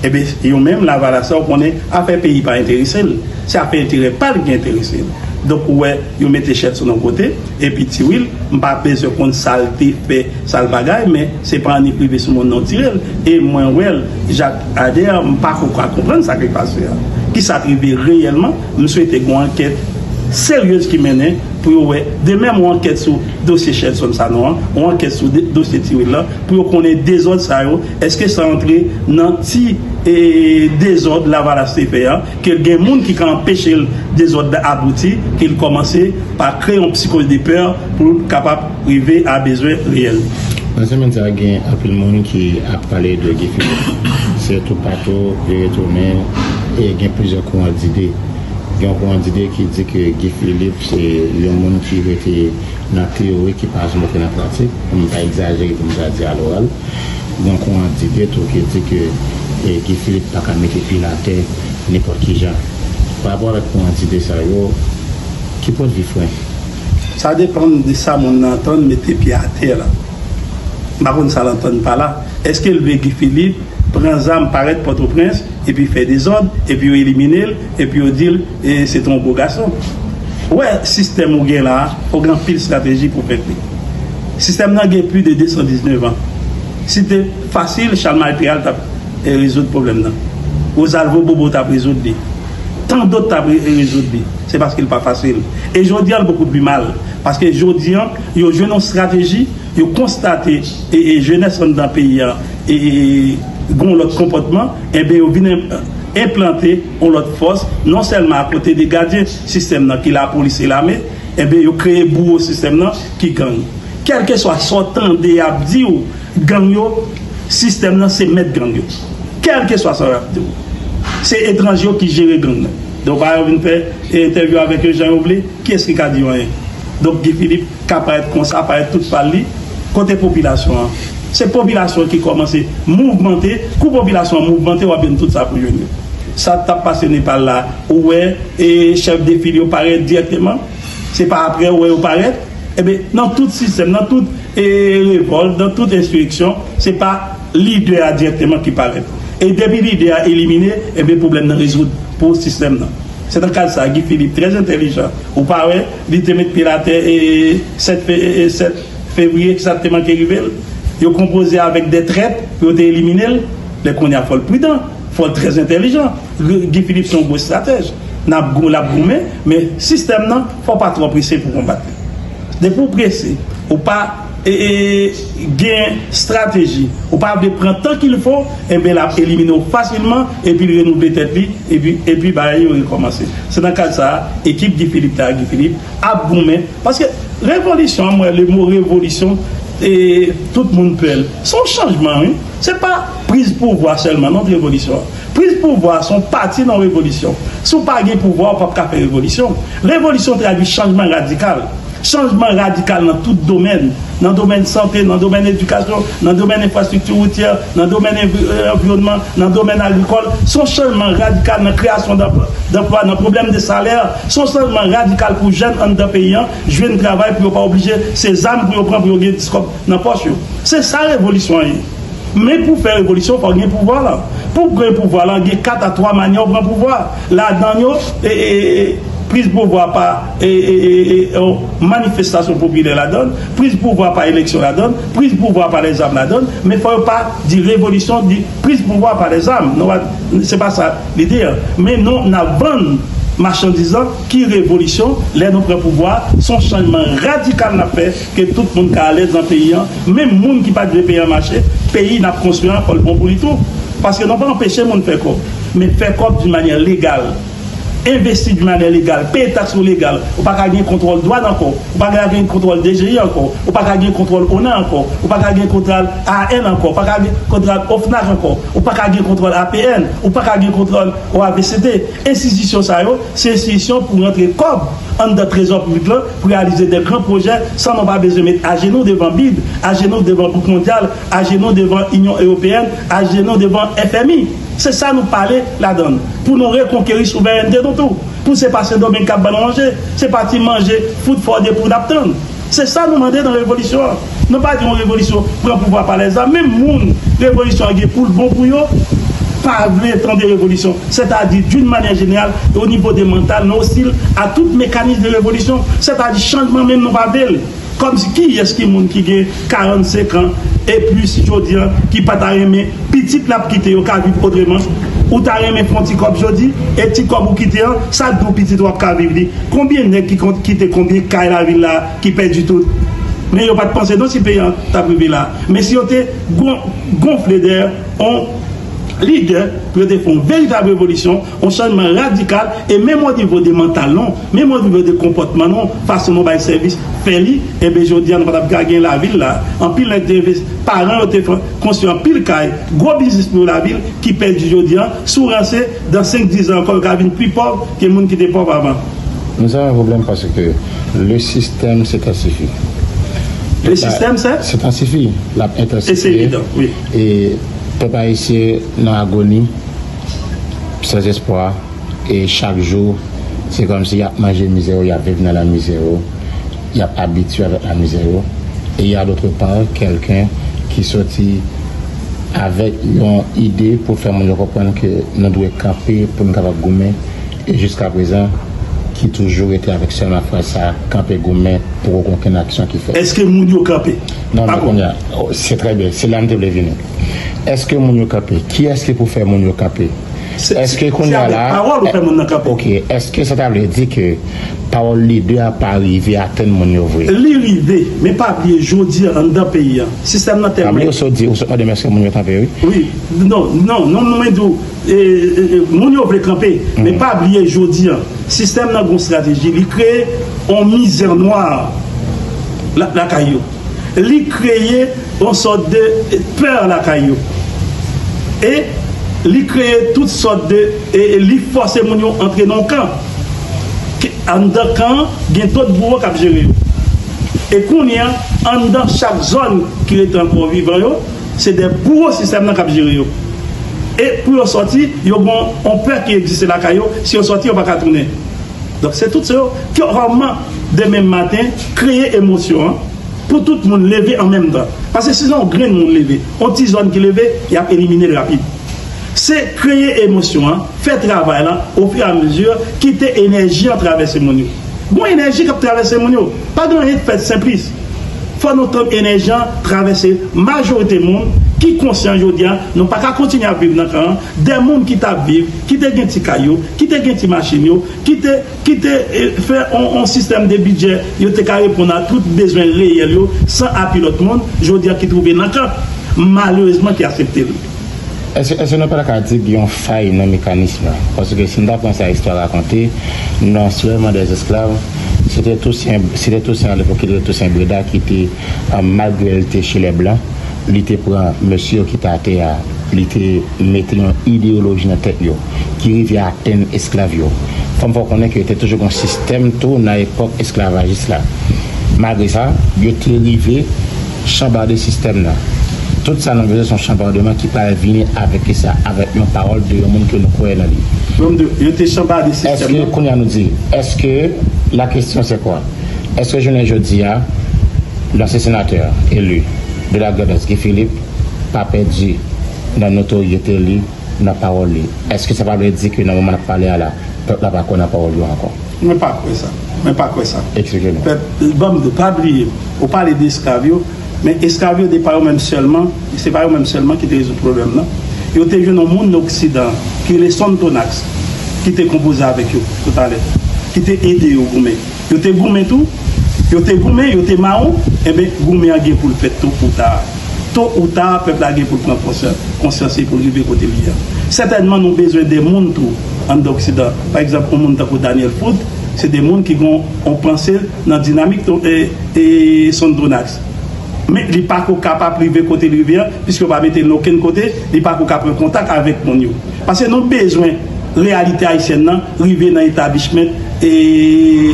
Enben yo menm lavalas la ou konnen afè peyi pa enterese l, se afè enterè pa l ki enterese l. Donk ou wè yo mete chèt sou yon kote, epi Ti Wil, m pa bezwen konn sa l te fè, sa l bagay, men se pa annik rive sou moun nan w tire l, e mwen wè l, Jacques Ader, m pako ka konprann sa ki pase a. Kisa k rive reyèlman? M swete gon ankèt seryez ki mennen pou yo wè demenm on ankèt sou dosye Shelson Sanon an, on ankèt sou dosye Ti Wil lan pou yo konnen dezòd sa yo eske sa antre nan ti dezòd lavalas te fè an ke gen moun ki ka anpeche l dezòd la abouti ke l kòmanse pa kreye on psychose de peur pou l kapab Prive a bezwen reyèl wi. Nan semen sa a gen anpil moun ki ap pale de Guy Philippe. Se toupatou li retounen e gen plizyè kouran dide. Gen yon kouran dide ki di ke Guy Philippe se yon moun ki rete nan teyori ki pa janm antre nan pratik, pou m pa egzajere pou m ta di aloral. Gen yon kouran dide tou ki di ke Guy Philippe pa ka mete pye l atè nenpòt ki jan. Parapò avèk kouran dide sa yo, ki pwendvi Frenk? Sa depann de sa moun nan antann mete pye atè la. M pa konn sa l antann pa la. Eske l vle Guy Philippe pran zam parèt Pòtoprens epi fè dezòd epi yo elimine l epi yo di l se te yon bo gason? Ou wè sistèm ou gen la a fò w gen anpil estrateji pou w fèt li. Sistèm nan gen pli de 219 an. Si l te fasil Chalmay Peral t ap rezoud pwoblèm nan. Rozalvo Bobo t ap rezoud li. Tandot t ap rezoud li. Se paske l pa fasil. E jodi a l bokou pi mal. Paske jodi an, yo jwenn yon strateji, yo konstate e jenès anndan peyi a e gen yon lòt konpòtman, enben yo vin enplante yon lòt fòs, non sèlman akote de gadyen sistèm nan ki lapolis e lame, enben yo kreye bouwo sistèm nan ki gang. Kèlkeswa sa w tande y ap di w, gang yo, sistèm nan se mèt gang yo. Kèlkeswa sa yo ap di w. Se etranje yo ki jere gang nan. Donk a yo vin fè entèvyou avèk yo jan yo vle, kiyès ki ka di yo anyen? Donk Guy Philippe ka parèt konsa, parèt tout pal li, kote popilasyon an? Se popilasyon ki kòmanse mouvmante, kou popilasyon an mouvmante wap jwenn tout sa pou jwenn yo. Sa tap pase Nepal la ou wè e chèf de fil yo parèt dirèkteman, se pa aprè ou wè yo parèt, enben nan tout sistèm, nan tout e revòlt, nan tout ensireksyon, se pa. Lidè a dirèkteman ki parèt. E depi lidè a elimine, enben pwoblèm nan rezoud pou sistèm nan. Se nan kad sa a Guy Philippe trè entèlijan, ou pa wè, li te met pye l atè 7 fevriye, kisa k te manke rive l? Yo konpoze avèk de trèt pou yo te elimine l. Men kounye a fò l pridan, fò l trè entèlijan. Guy Philippe se yon gwo estratèj. N ap gou, l ap goumen, men sistèm nan fò w pa twò prese pou w konbat li. Depi w prese, ou pa. gen strateji ou pa vle pran tan kil fo enben lap elimine w fasilman epi l renouvle tèt li epi bagay yo rekòmanse se nan kad sa ekip Guy Philippe la Guy Philippe ap goumen paske revolisyon an m wè le mo revolisyon tout moun pè l se yon chanjman wi se pa priz pouvwa sèlman non revolisyon an priz pouvwa se yon pati nan revolisyon si w pa gen pouvwa w pap ka fè revolisyon revolisyon tradwi chanjman radikal. Chanjman radikal nan tout domèn, nan domèn sante, nan domèn edikasyon, nan domèn enfrastrikti woutyè, nan domèn envyonman, nan domèn agrikòl, se yon chanjman radikal nan kreyasyon danplwa, nan pwoblèm de salè, se yon chanjman radikal pou jèn anndan peyi an jwenn travay pou yo pa oblije se zam pou yo pran pou yo gen 10 kòb nan pòch yo. Se sa revolisyon an ye. Men pou fè revolisyon fò w gen pouvwa lan. Pou w gen pouvwa lan gen 4 a 3 manyè w pran pouvwa. Ladan yo, priz pouvwa pa. yon manifestasyon popilè ladan l, priz pouvwa pa eleksyon ladan l, priz pouvwa pa lèzam ladan l, men fò yo pa di revolisyon, di priz pouvwa pa lèzam. Nou pa, se pa sa lide an. Men nou, n ap vann machandiz lan ki revolisyon, lè nou pran pouvwa a, s on chanjman radikal n ap fè ke tout moun ka alèz nan peyi an, menm moun ki pa t vle peyi an mache, peyi n ap konstwi an fò l bon pou li tou. Paske nou pa anpeche moun fè kòb, men fè kòb doun manyè legal. Envesti di manè legal, peye taks ou legal, ou pa ka gen kontwòl dwan ankò, ou pa ka gen kontwòl DGI ankò, ou pa ka gen kontwòl ona ankò, ou pa ka gen kontwòl AAN ankò, ou pa ka gen kontwòl OFNAC ankò, ou pa ka gen kontwòl APN, ou pa ka gen kontwòl OABCT. Enstitisyon sa yo, se enstitisyon pou rantre kòb anndan trezò piblik lan pou reyalize de gran pwojè san nou pa bezwen met ajenou devan bid, ajenou devan bouk mondyal, ajenou devan Inyon Ewopeyèn, ajenou devan FMI. Se sa nou pale ladan l. Pou nou rekonkeri souverènte nou tou. Pou se pa Sendomeng k ap ban nou manje. Se pa ti manje fout fò de pou n ap tann. Se sa nou mande nan revolisyon an. Nou pa di yon revolisyon pran pouvwa pa lèzam. Menm moun revolisyon an gen pou l bon pou yo pa vle tande revolisyon. Sètadi d'une manière générale et au niveau de mental nos hostile à toute mécanisme de révolution. Sètadi chanjman menm nou pa vle l. Kòmsi kiyès ki moun ki gen 45 an e plis jodi an ki pa ta renmen pitit l ap kite yo ka viv otreman? Ou ta renmen fè yon ti kòb jodi e ti kòb ou kite an, sa k di w pitit ou ap ka viv li? Konbyen nèg ki kont kite konbyen kay lavil la a ki pèdi tout? Men yo pa t panse non si peyi an t ap rive la a. Men si yo te gonfle dèyè yon lidè pou yo te fè yon veritab revolisyon, On chanjman radikal e menm o nivo de mantal nou, menm o nivo de konpòtman nou, fason nou bay sèvis, fè li, enben jodi a nou pa tap ka gen lavil la. Anpil nèg te enves, paran yo te fè konstwi anpil kay, gwo biznis pou yo lavil ki pèdi jodi a, sou ranse, dan 5, 10 zan ankò yo ka vin pi pòv ke moun ki te pòv avan. Men sa pa pwoblèm paske le sistèm se tansifi. Le sistèm se? Se tansifi, lap entansifiye. E se evidan, wi. E pèp ayisyen nan agoni. Sans espwa e chak jou se kòmsi yap manje mizè yo, yap viv nan la mizè yo, yap abitye avèk la mizè yo e a d'autre part quelqu'un ki soti avèk yon ide pou fè moun yo konprann ke nou dwe kanpe pou nou kapab goumen e jiska prezan ki toujou rete avèk sèlman fraz sa kanpe goumen poko gen okenn aksyon ki fèt. Eske moun yo kanpe? Non, non, kounye a. Se trè byen. Se la m te vle vini. Eske moun yo kanpe? Kiyès ki pou fè moun yo kanpe? Eske kounye a la, eske sa ta vle di ke pawòl lidè a pa rive atenn moun yo vre? Li rive, men pa bliye jodi a anndan peyi a, sistèm nan tèlman. Pa bliye ou sot di, ou sot mande m eske moun yo kanpe wi. Wi, non, non, non mwen di w, moun yo vle kanpe, men pa bliye jodi a, sistèm nan gon strateji, li kreye yon mizè nwa lakay yo. li kreye yon sòt de pè lakay yo e li kreye tout sòt de e li fòse moun yo antre nan yon kan ke anndan kan an gen dòt bouwo k ap jere yo e kounye a anndan chak zòn ki rete ankò vivan yo se de bouwo sistèm nan k ap jere yo e pou yo sòti yo gen yon pè ki egziste lakay yo si yo sòti yo pa ka tounen. Donk se tout se yo kòman demen maten kreye emosyon an pou tout moun leve an menm tan. Paske si se yon grenn moun leve, yon ti zòn ki leve, y ap elimine l rapid. Se kreye emosyon an, fè travay lan ofiramezi, kite enèji an travèse moun yo. Gon enèji k ap travèse moun yo. Pa gen anyen k fèt senplis. Fò nou tann enèji an travèse majorite moun ki konsyan jodi a nou pa ka kontinye ap viv nan kan 2 moun ki t ap viv ki te gen ti kay yo, ki te gen ti machin yo, ki te ki te fè yon sistèm de bidjè yo te ka reponn a tout bezwen reyèl yo san api lòt moun, jodi a ki twouve nan kan, malerezman ki asepte l. Èske nou pa ta ka di gen yon fay nan mekanism lan? Paske si n ta pran sa istwa rakonte, nan Soulèvman dèzesklav, se te Tousen, se te Tousen Alèt pou ki te Tousen Breda ki te. Malgre l te che lè blan, li te pran mesye yo ki te atè a, li te mete yon ideyoloji nan tèt yo ki rive atenn esklav yo. Kòm fè w konnen ke te toujou gen yon sistèm tou nan epòk esklavajis la. Malgre sa, yo te rive chanbarde sistèm nan. Tout sa nou bezwen se yon chanbardeman ki pral vini avèk ki sa? Avèk yon pawòl de yon moun ke nou kwè nan li. Èske, kounye a nou di, èske, la question c'est quoi? Eske jounen jodi a, lansyen senatè eli de la Grandans Guy Philippe pa pèdi nan notoryete li, nan pawòl li? Eske sa pa vle di ke nan moman n ap pale a la, pèp la pa kwè nan pawòl yo ankò? Mwen pa kwè sa. Mwen pa kwè sa. Eksplike nou. Pèp, ban m do. Pa bliye, ou pale de esklav yo, men esklav yo de pa yo menm sèlman, se pa yo menm sèlman ki te rezoud pwoblèm nan. Yo te jwenn yon moun nan oksidan an ki rele Sonthonax ki te konpoze avèk yo toutalè, ki te ede yo goumen. Yo te goumen tou? Yo te goumen, yo te mawon? Enben, goumen an gen pou l fèt to ou ta. To ou ta, pèp la gen pou l pran konsyans e pou l rive kote li ye a. Sètènman, nou bezwen de moun tou anndan oksidan. Pa egzanp, yon moun tankou Daniel Foot, se de moun ki gen yon panse nan dinamik Sundronax. Men, li pa ko kapab rive kote l rive a, piske yo pa mete l nan okenn kote, li pa ko ka pran kontak avèk moun yo. Pase nou bezwen. reyalite ayisyèn nan rive nan etablishment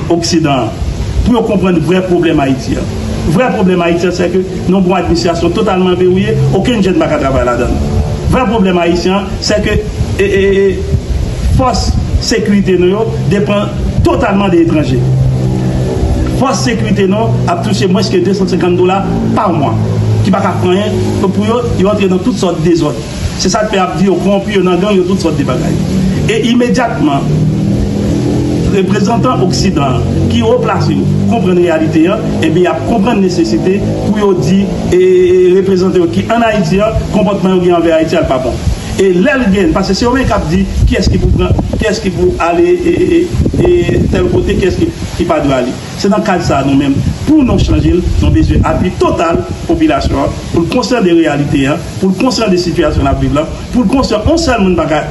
oksidan an pou yo konprann vrè pwoblèm Ayiti an. Vrè pwoblèm Ayiti an sèke n on bon administrasyon totalman verouye, okenn jèn pa ka travay ladan l. Vrè pwoblèm ayisyen an sèke fòs sekirite nou yo depan totalman de etranje. Fòs sekirite nou ap touche mwens ke 250 dola pa mwa ki pa ka fè anyen pou yo, yo antre nan tout sòt dezòd. Se sa k fè y ap di yo kowonpi, yo nan gang, yo tout sòt de bagay. E imedyatman, reprezantan oksidan an ki wo plase yo konprann reyalite an, enben y ap konprann nesesite pou yo di reprezantan yo ki ann Ayiti an konpòtman yo gen anvè Ayiti a l pa bon. E lè l gen, paske se yo menm k ap di kiyès ki pou pran, kiyès ki pou ale tèl kote, kiyès ki pa dwe ale. Se nan kad sa a nou menm, pou nou chanje l, nou bezwen apui total popilasyon an pou l konsyan de reyalite a, pou l konsyan de sitiyasyon l ap viv la, pou l konsyan on sèl moun pa ka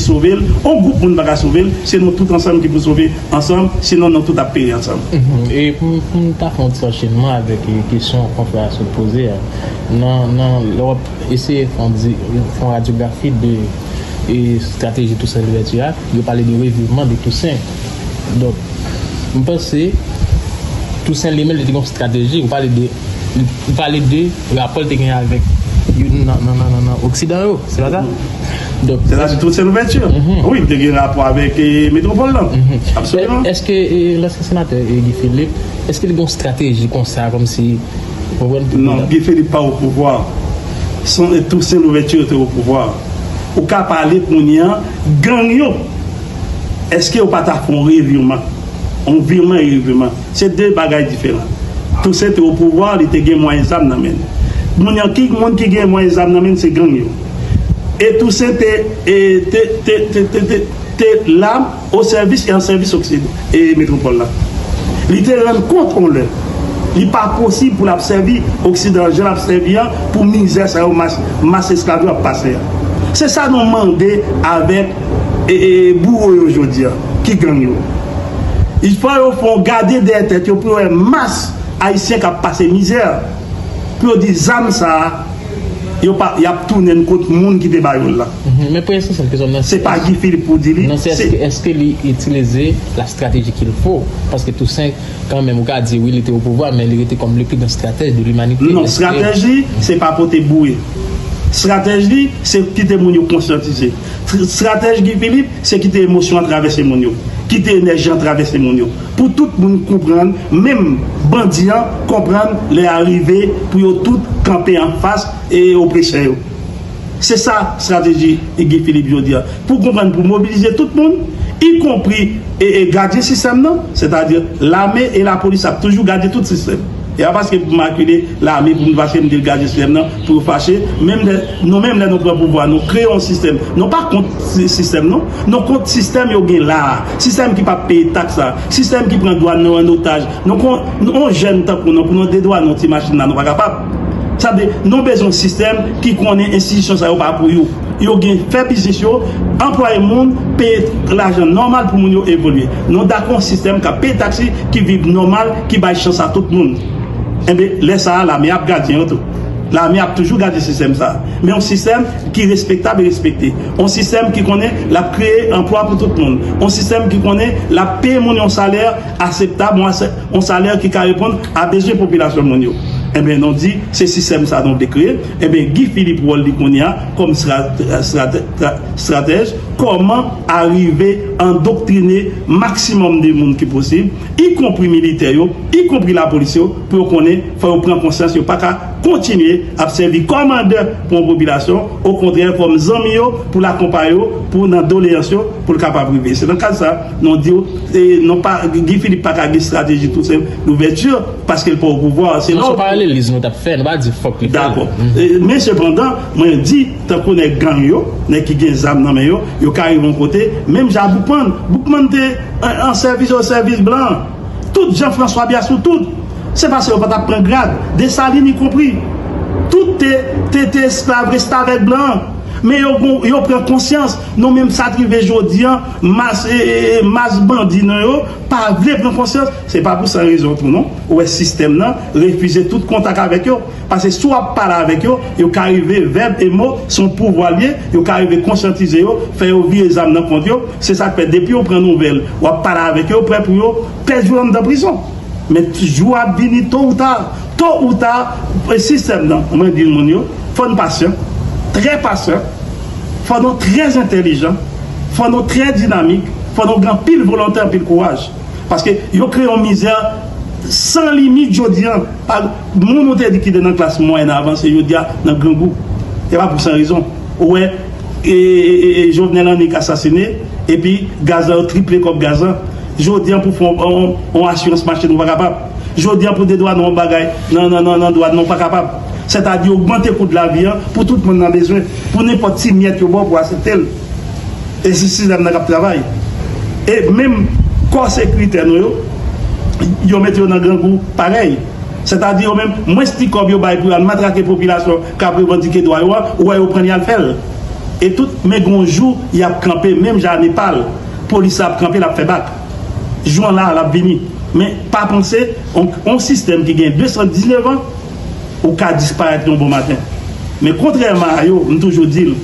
sove l, on gwoup moun pa ka sove l, se nou tout ansanm ki pou sove ansanm, sinon nou tout ap peri ansanm. E pou m ta fè on ti anchenman avèk kesyon konfrè a sot poze a, nan lè w ap eseye fè on radyografi de strateji Toussaint Louverture a, yo pale de revivman de Toussaint. Donk, m panse Tousen li menm li te gen yon strateji, ou pale de ou pale de rapò li te genyen avèk youn nan oksidan yo, se pa sa? Donk Se ta di Tousen Louvèti? Wi, li te gen rapò avèk metwopòl lan. Absoliman. Eske lansyen senatè Guy Philippe, eske li gen yon strateji konsa kòmsi ou konprann? Non, Guy Philippe pa opouvwa. Son e Tousen Louvèti yo te opouvwa. Ou ka pale kounye an, gang yo. Eske yo pa ta fè yon revirman? Yon virman e revirman, se de bagay diferan. Tousen te opouvwa, li te gen mwayen zam nan men. Moun an, ki moun ki gen mwayen zam nan men, se gang yo. E Tousen te, e, te, te, te, te, te, te la o sèvis e an sèvis okside, e metwopòl la. Li te rann kont yon lè, li pa posib pou l ap sèvi oksidan an jan l ap sèvi an pou mizè sa yo mas, mas esklav yo ap pase a. Se sa nou mande avèk. E bouro yo jodia ki gang yo? Il fò yo fon gade dèyè tèt yo pou yo wè mas ayisyen kap pase mizè, pou yo di zam sa yo pa yap tounen kont moun ki te ba yo la. Men premye sesyon ke zòm nan. Se pa Guy Philippe pou di li. Non se eske li itilize la strateji kil fo? Paske Toussaint kan menm ou ka di wi li te o pouvwa men li rete kòm le pi gran stratèj de limanite. Non strateji se pa pote boure. Strateji se kite moun yo konsyantize. Stratèji Guy Philippe se kite emosyon an travèse moun yo, kite enèji an travèse moun yo pou tout moun konprann, menm bandi an konprann lè a rive pou yo tout kanpe anfas opresè yo. Se sa strategi Guy Philippe jodi a. Pou konprann pou mobilize tout moun, ikonpri gadyen sistèm nan, sètadi lame e lapolis ap toujou gadyen tout sistèm. E a paske pou makile lame pou m paske m di l gadyen sistèm nan. Pou fache, menm lè, nou menm lè nou pran pouvwa nou kreye yon sistèm, nou pa kont sistèm non, nou kont sistèm yo gen la a, sistèm ki pap peye taks la, sistèm ki pran dwàn nou an otaj, nou kon, yon jèn tankou nou pou nou dedwannen yon ti machin la nou pa kapab, sa vle, nou bezwen yon sistèm ki konnen enstitisyon sa yo pa pou yo, yo gen fè biznis yo, anplwaye moun, peye lajan nòmal pou moun yo evolye, nou dakò yon sistèm kap peye taks li, ki viv nòmal, ki bay chans a tout moun, enben lè sa a lame a ap gadyen yo tou. Lame ap toujou gade sistèm sa a. Men yon sistèm ki respektab e respekte. Yon sistèm ki konnen l ap kreye anplwa pou tout moun. Yon sistèm ki konnen l ap peye moun yon salè aseptab, yon salè ki ka reponn a bezwen popilasyon moun yo. Enben, nou di, se sistèm sa a nou vle kreye. Enben, Guy Philippe wòl li kounye a kòm estratèj, kòman arive andoktrine maksimòm de moun ki posib, ikonpri militè yo, ikonpri lapolis yo, pou yo konnen fò yo pran konsyans yo pa ka kontinye ap sèvi kòm andè pou yon popilasyon, okontrè kòm zanmi yo pou l akonpaye yo pou nan doleyans yo pou l kapab rive. Se nan kad sa nou di w e non pa Guy Philippe pa ka gen strateji tou senp douvèti paske l pa opouvwa a se nan. Non se yon paraleliz nou t ap fè nou pa di fòk li fè l. Dakò. Men sepandan mwen di tankou nèg gang yo, nèg ki gen zam nan men yo, yo ka rive yon kote menm jan Boukman, Boukman te an sèvis o sèvis blan. Tout Jean François Bias ou tout se pase yo pa tap pran grad Dessalines y compris tout te te te esklav restavèk blan an men yo gon yo pran konsyans non men sa t rive jodi an mas e e e mas bandi nan yo pa vle pran konsyans se pa pou san rezon tou non ou wè sistèm nan refize tout kontak avèk yo. Pase si w ap pale avèk yo, yo ka rive, vèb e mo se yon pouvwa l ye, yo ka rive konsyantize yo, fè yo vire zam nan kont yo. Se sa k fè depi yo pran nouvèl w ap pale avèk yo, yo prè pou yo pèdi w anndan prizon. Men, jou a ap vini to ou ta, to ou ta, sistèm nan, mwen di moun yo, fò n pasyan, trè pasyan, fò nou trè entèlijan, fò nou trè dinamik, fò nou gen anpil volonte, anpil kouraj. Paske yo kreye yon mizè san limit jodi an. Moun ou te di ki te nan klas mwayèn avanse jodi a nan grangou. E pa pou san rezon. Ou wè Jovenel annik asasine epi gaz la yo triple kòb gaz lan. Jodi a pou fè yon asirans mache nou pa kapab. Jodi a pou dedwane yon bagay nan dwàn nou pa kapab. Sètadi ogmante kou de lavi an pou tout moun nan bezwen. Pou nenpòt ti myèt yo ba w pou w asepte l. E se sistèm nan k ap travay. E menm kò sekiritè nou yo, yo mete yo nan grangou parèy. Sètadi yo menm, mwens ti kòb yo bay pou yo al matrake popilasyon k ap revandike dwa yo a, ou wè yo pran li al fè l. E tout, men gen yon jou y ap kanpe menm jan a Nepal, polis la ap kanpe l ap fè bak. Jou an la a l ap vini. Men, pa panse, yon sistèm ki gen 219 an, ou ka disparèt yon bon maten. Men kontrèman a yo, m toujou di l,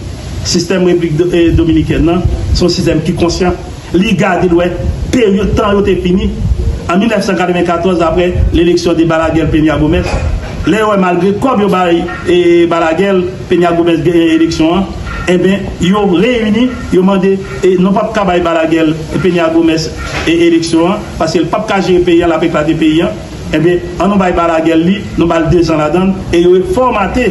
sistèm Repiblik Dominikèn nan, se yon sistèm ki konsyan. Li gade l wè peryòd tan yo te fini an 1994 apre leleksyon de Balaguer Peña Gómez. Lè yo wè malgre kòb yo bay Balaguer, Peña Gómez genyen eleksyon an, enben yo reyini, yo mande nou pap ka bay Balaguer Peña Gómez eleksyon an paske l pap ka jere peyi an, l ap eklate peyi an. Enben an nou bay Balaguer li, nou ba l dezan ladan l e yo refòmate,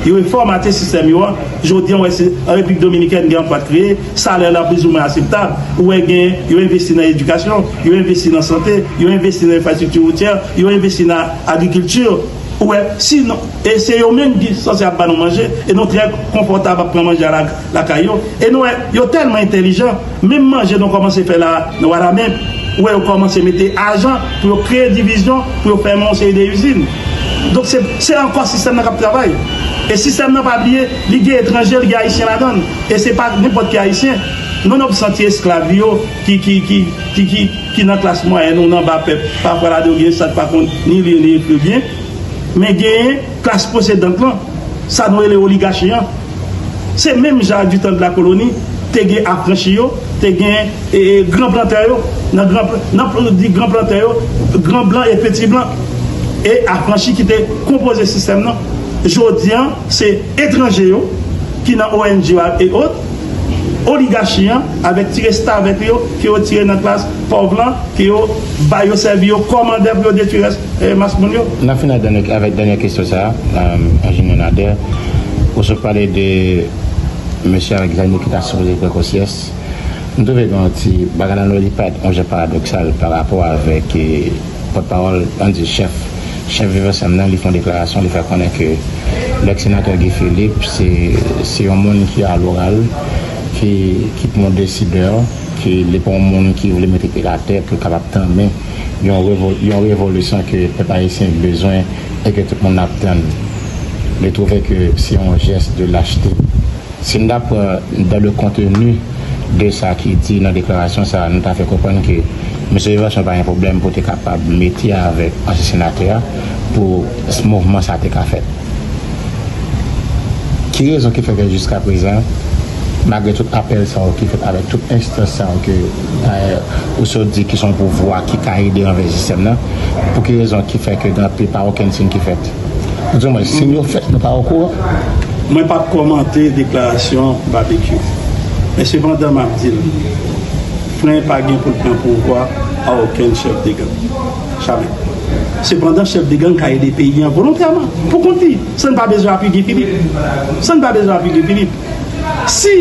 yo refòmate sistèm yo an. Jodi an ou wè se an Repiblik Dominikèn gen anpwa t kreye. Salè la plizoumwen aseptab. Ou wè gen, yo envesti nan edikasyon, yo envesti nan sante, yo envesti nan enfrastrikti woutyè, yo envesti nan agrikilti. Ou wè, si nou, e se yo menm ki sanse ap ba nou manje, e nou trè konfòtab ap pran manje a lakay yo. E nou wè, yo tèlman entèlijan, menm manje nou kòmanse fè la a nan Wanament, ou wè yo kòmanse mete ajan pou yo kreye divizyon, pou yo fèmen yon seri de izin. Donk se, se ankò sistèm nan k ap travay. E sistèm nan pa bliye, Li gen etranje li gen ayisyen ladann e se pa nenpòt ki ayisyen non non santi esklav yo ki ki ki ki ki ki nan klas mwayèn ou nan ba pèp pafwa ladan yo gen sa ki pa konn ni li ni ekri byen men gen klas posedant lan sa nou rele oligachi an se menm jan ak ditan de la koloni te gen afranchi yo te gen ee gran plantè yo nan gran nan pou nou di gran plantè yo gran blan e peti blan e afranchi ki te konpoze sistèm nan jodi an. Se etranje yo ki nan ong yo ak eot, oligachi an avèk ti restavèk yo ke yo tire nan klas pòv lan ke yo bay yo sèvi yo kòmandè pou yo detwi rès mas moun yo. N ap fini ak dènyè avèk dènyè kesyon sa a, Enjenyè Nader, ou sot pale de mesye avèk zam yo ki ta sipoze pran konsyans. M twouve gen yon ti bagay la nou li pa yon jan paradoksal pa rapò avèk pòtpawòl, an n di chèf Chèf Viv Ansanm nan li fè yon deklarasyon li fè konnen ke lèks senatè Guy Philippe se se yon moun ki a loral ki ki p yon desidè ki li pa yon moun ki vle mete pye l atè pou l kapab tanmen yon revo yon revolisyon ke pèp ayisyen bezwen e ke tout moun ap tann li twouve ke se yon jès de lachte. Si n ta pran dans le contenu de sa ki di nan deklarasyon sa a, nou ta fè konprann ke Mesye Yvanson pa gen pwoblèm pou te kapab mete avèk ansyen senatè a pou mouvman sa a te ka fèt. Ki rezon ki fè ke jiskaprezan, malgre tout apèl sa yo ki fèt avèk tout enstans sa yo ke dayè ou sot di ki se yon pouvwa ki ka ede anvè sistèm nan, pou ki rezon ki fè ke pa okenn siyn ki fèt? Di mwen sim yo fèt mwen pa okouran. Mwen pap kòmante deklarasyon Babekyou. Men sepandan map dil, fren pa gen poul pran pouvwa a okenn chèf de gang. Jamè. Sepandan chèf de gang ka ede peyi an volontèman, pou kont li, san li pa bezwen apui Guy Philippe. San li pa bezwen apui Guy Philippe. Si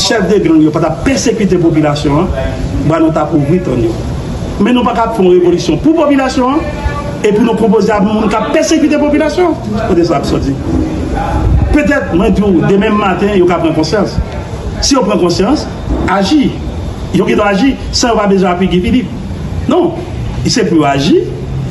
chèf de gang yo pa tap pèsekite popilasyon an, bra nou tap ouvri tann yo. Men nou paka ap fè yon revolisyon pou popilasyon an epi nou konpoze ak moun kap pèsekite popilasyon an. Kote sa ap soti? Petèt mwen di w demen maten yo ka pran konsyans. Si yo pran konsyans, aji. Yo gendwa aji san yo pa bezwen apui Guy Philippe. Non, se pou yo aji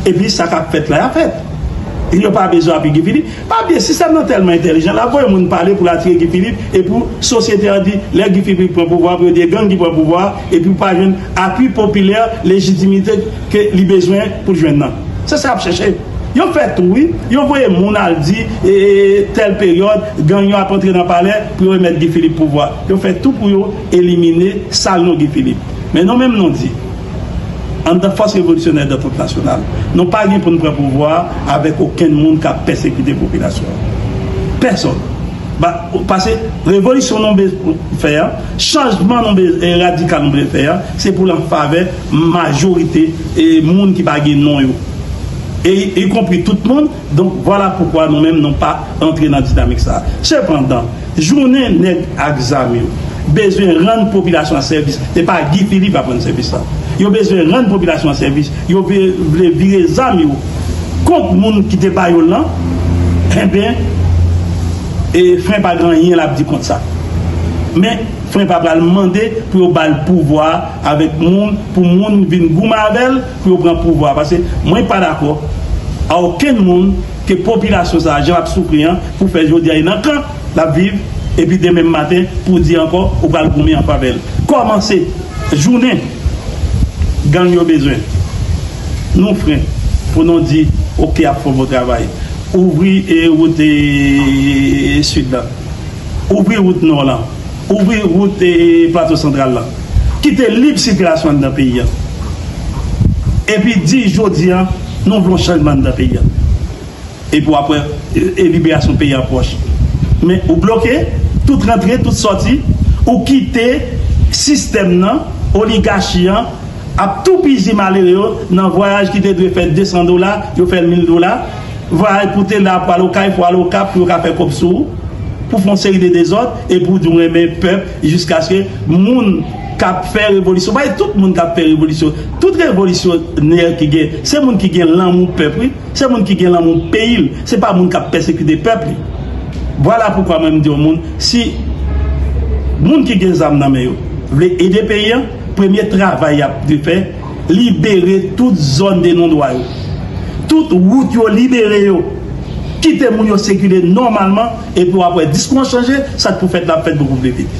epi sa kap fèt la yap fèt. Yo pa bezwen apui Guy Philippe. Pa bliye sistèm nan tèlman entèlijan lap voye moun pale poul atire Guy Philippe e pou sosyete an di lè Guy Philippe pran pouvwa pou yo di e gang ki pran pouvwa a e pou pa jwenn apui popilè lejitimite ke li bezwen poul jwenn nan. Se sa yap chèche. Yo fè tou wi, yo voye moun al di e tèl peryòd gang yo ap antre nan palè pou yo remèt Guy Philippe pouvwa. Yo fè tou pou yo elimine sal non Guy Philippe. Men non menm non di. Anndan Fòs Revolisyonè Dantòt Nasyonal, nou pa gen pou n pran pouvwa a avèk okenn moun k ap pèsekite popilasyon an. Pèsonn. Ba, pase revolisyon nou be, fè an, chanjman nou be, e radikal nou be fè an, se pou l an favè majorite e moun ki pa gen non yo. E ikonpri tout moun. Donk vwala poukwa nou menm nou pa antre nan dinamik sa. Sepandan, jounen nèg ak zam yo bezwen rann popilasyon an sèvis, se pa Guy Philippe ap rann sèvis la. Yo bezwen rann popilasyon an sèvis, yo vle vire zam yo kont moun ki te ba yo l lan, enben, fren pa gen anyen l ap di kont sa. Men, fren pa pral mande pou yo ba l pouvwa a avèk moun pou moun vin goumen avè l, pou yo pran pouvwa a paske mwen pa dakò a okenn moun ke popilasyon sa a jan l ap soufri an pou fè jodi a li nan kan l ap viv epi demen maten pou di ankò ou pral goumen an favè l kòmanse jounen gang yo bezwen nou fren pou nou di ok ap fò bon travay ouvri wout sud la ouvri wout nò lan. Ouvri wout Plato Santral la. Kite lib sikilasyon anndan peyi a. Epi di jodi a nou vle yon chanjman anndan peyi a. Epi w ap wè liberasyon peyi a pwòch. Men ou bloke tout rantre, tout sòti. Ou kite sistèm nan, oligachi an ap toupizi malere yo nan vwayaj ki te dwe fè 200 dola, yo fè l 1000 dola. Vwayaj pou te la pou al Okay, pou al Okap pou yo ka fè kòb sou ou. Pou fè yon seri de dezòd. E pou di w renmen pèp jiskaske moun k ap fè revolisyon, pa e tout moun k ap fè revolisyon, tout revolisyonè ki gen, se moun ki gen lanmou pèp wi, se moun ki gen lanmou peyi l, se pa moun k ap pèsekite pèp li. Vwala poukwa mwen m di yon moun, si moun ki gen zam nan men yo vle ede peyi an, premye travay y ap dwe fè, libere tout zòn de non dwa yo, tout wout yo libere yo, kite moun yo sikile nòmalman. Epi wap wè diskou an chanje, sak pou fèt la ap fèt boukou vle vit.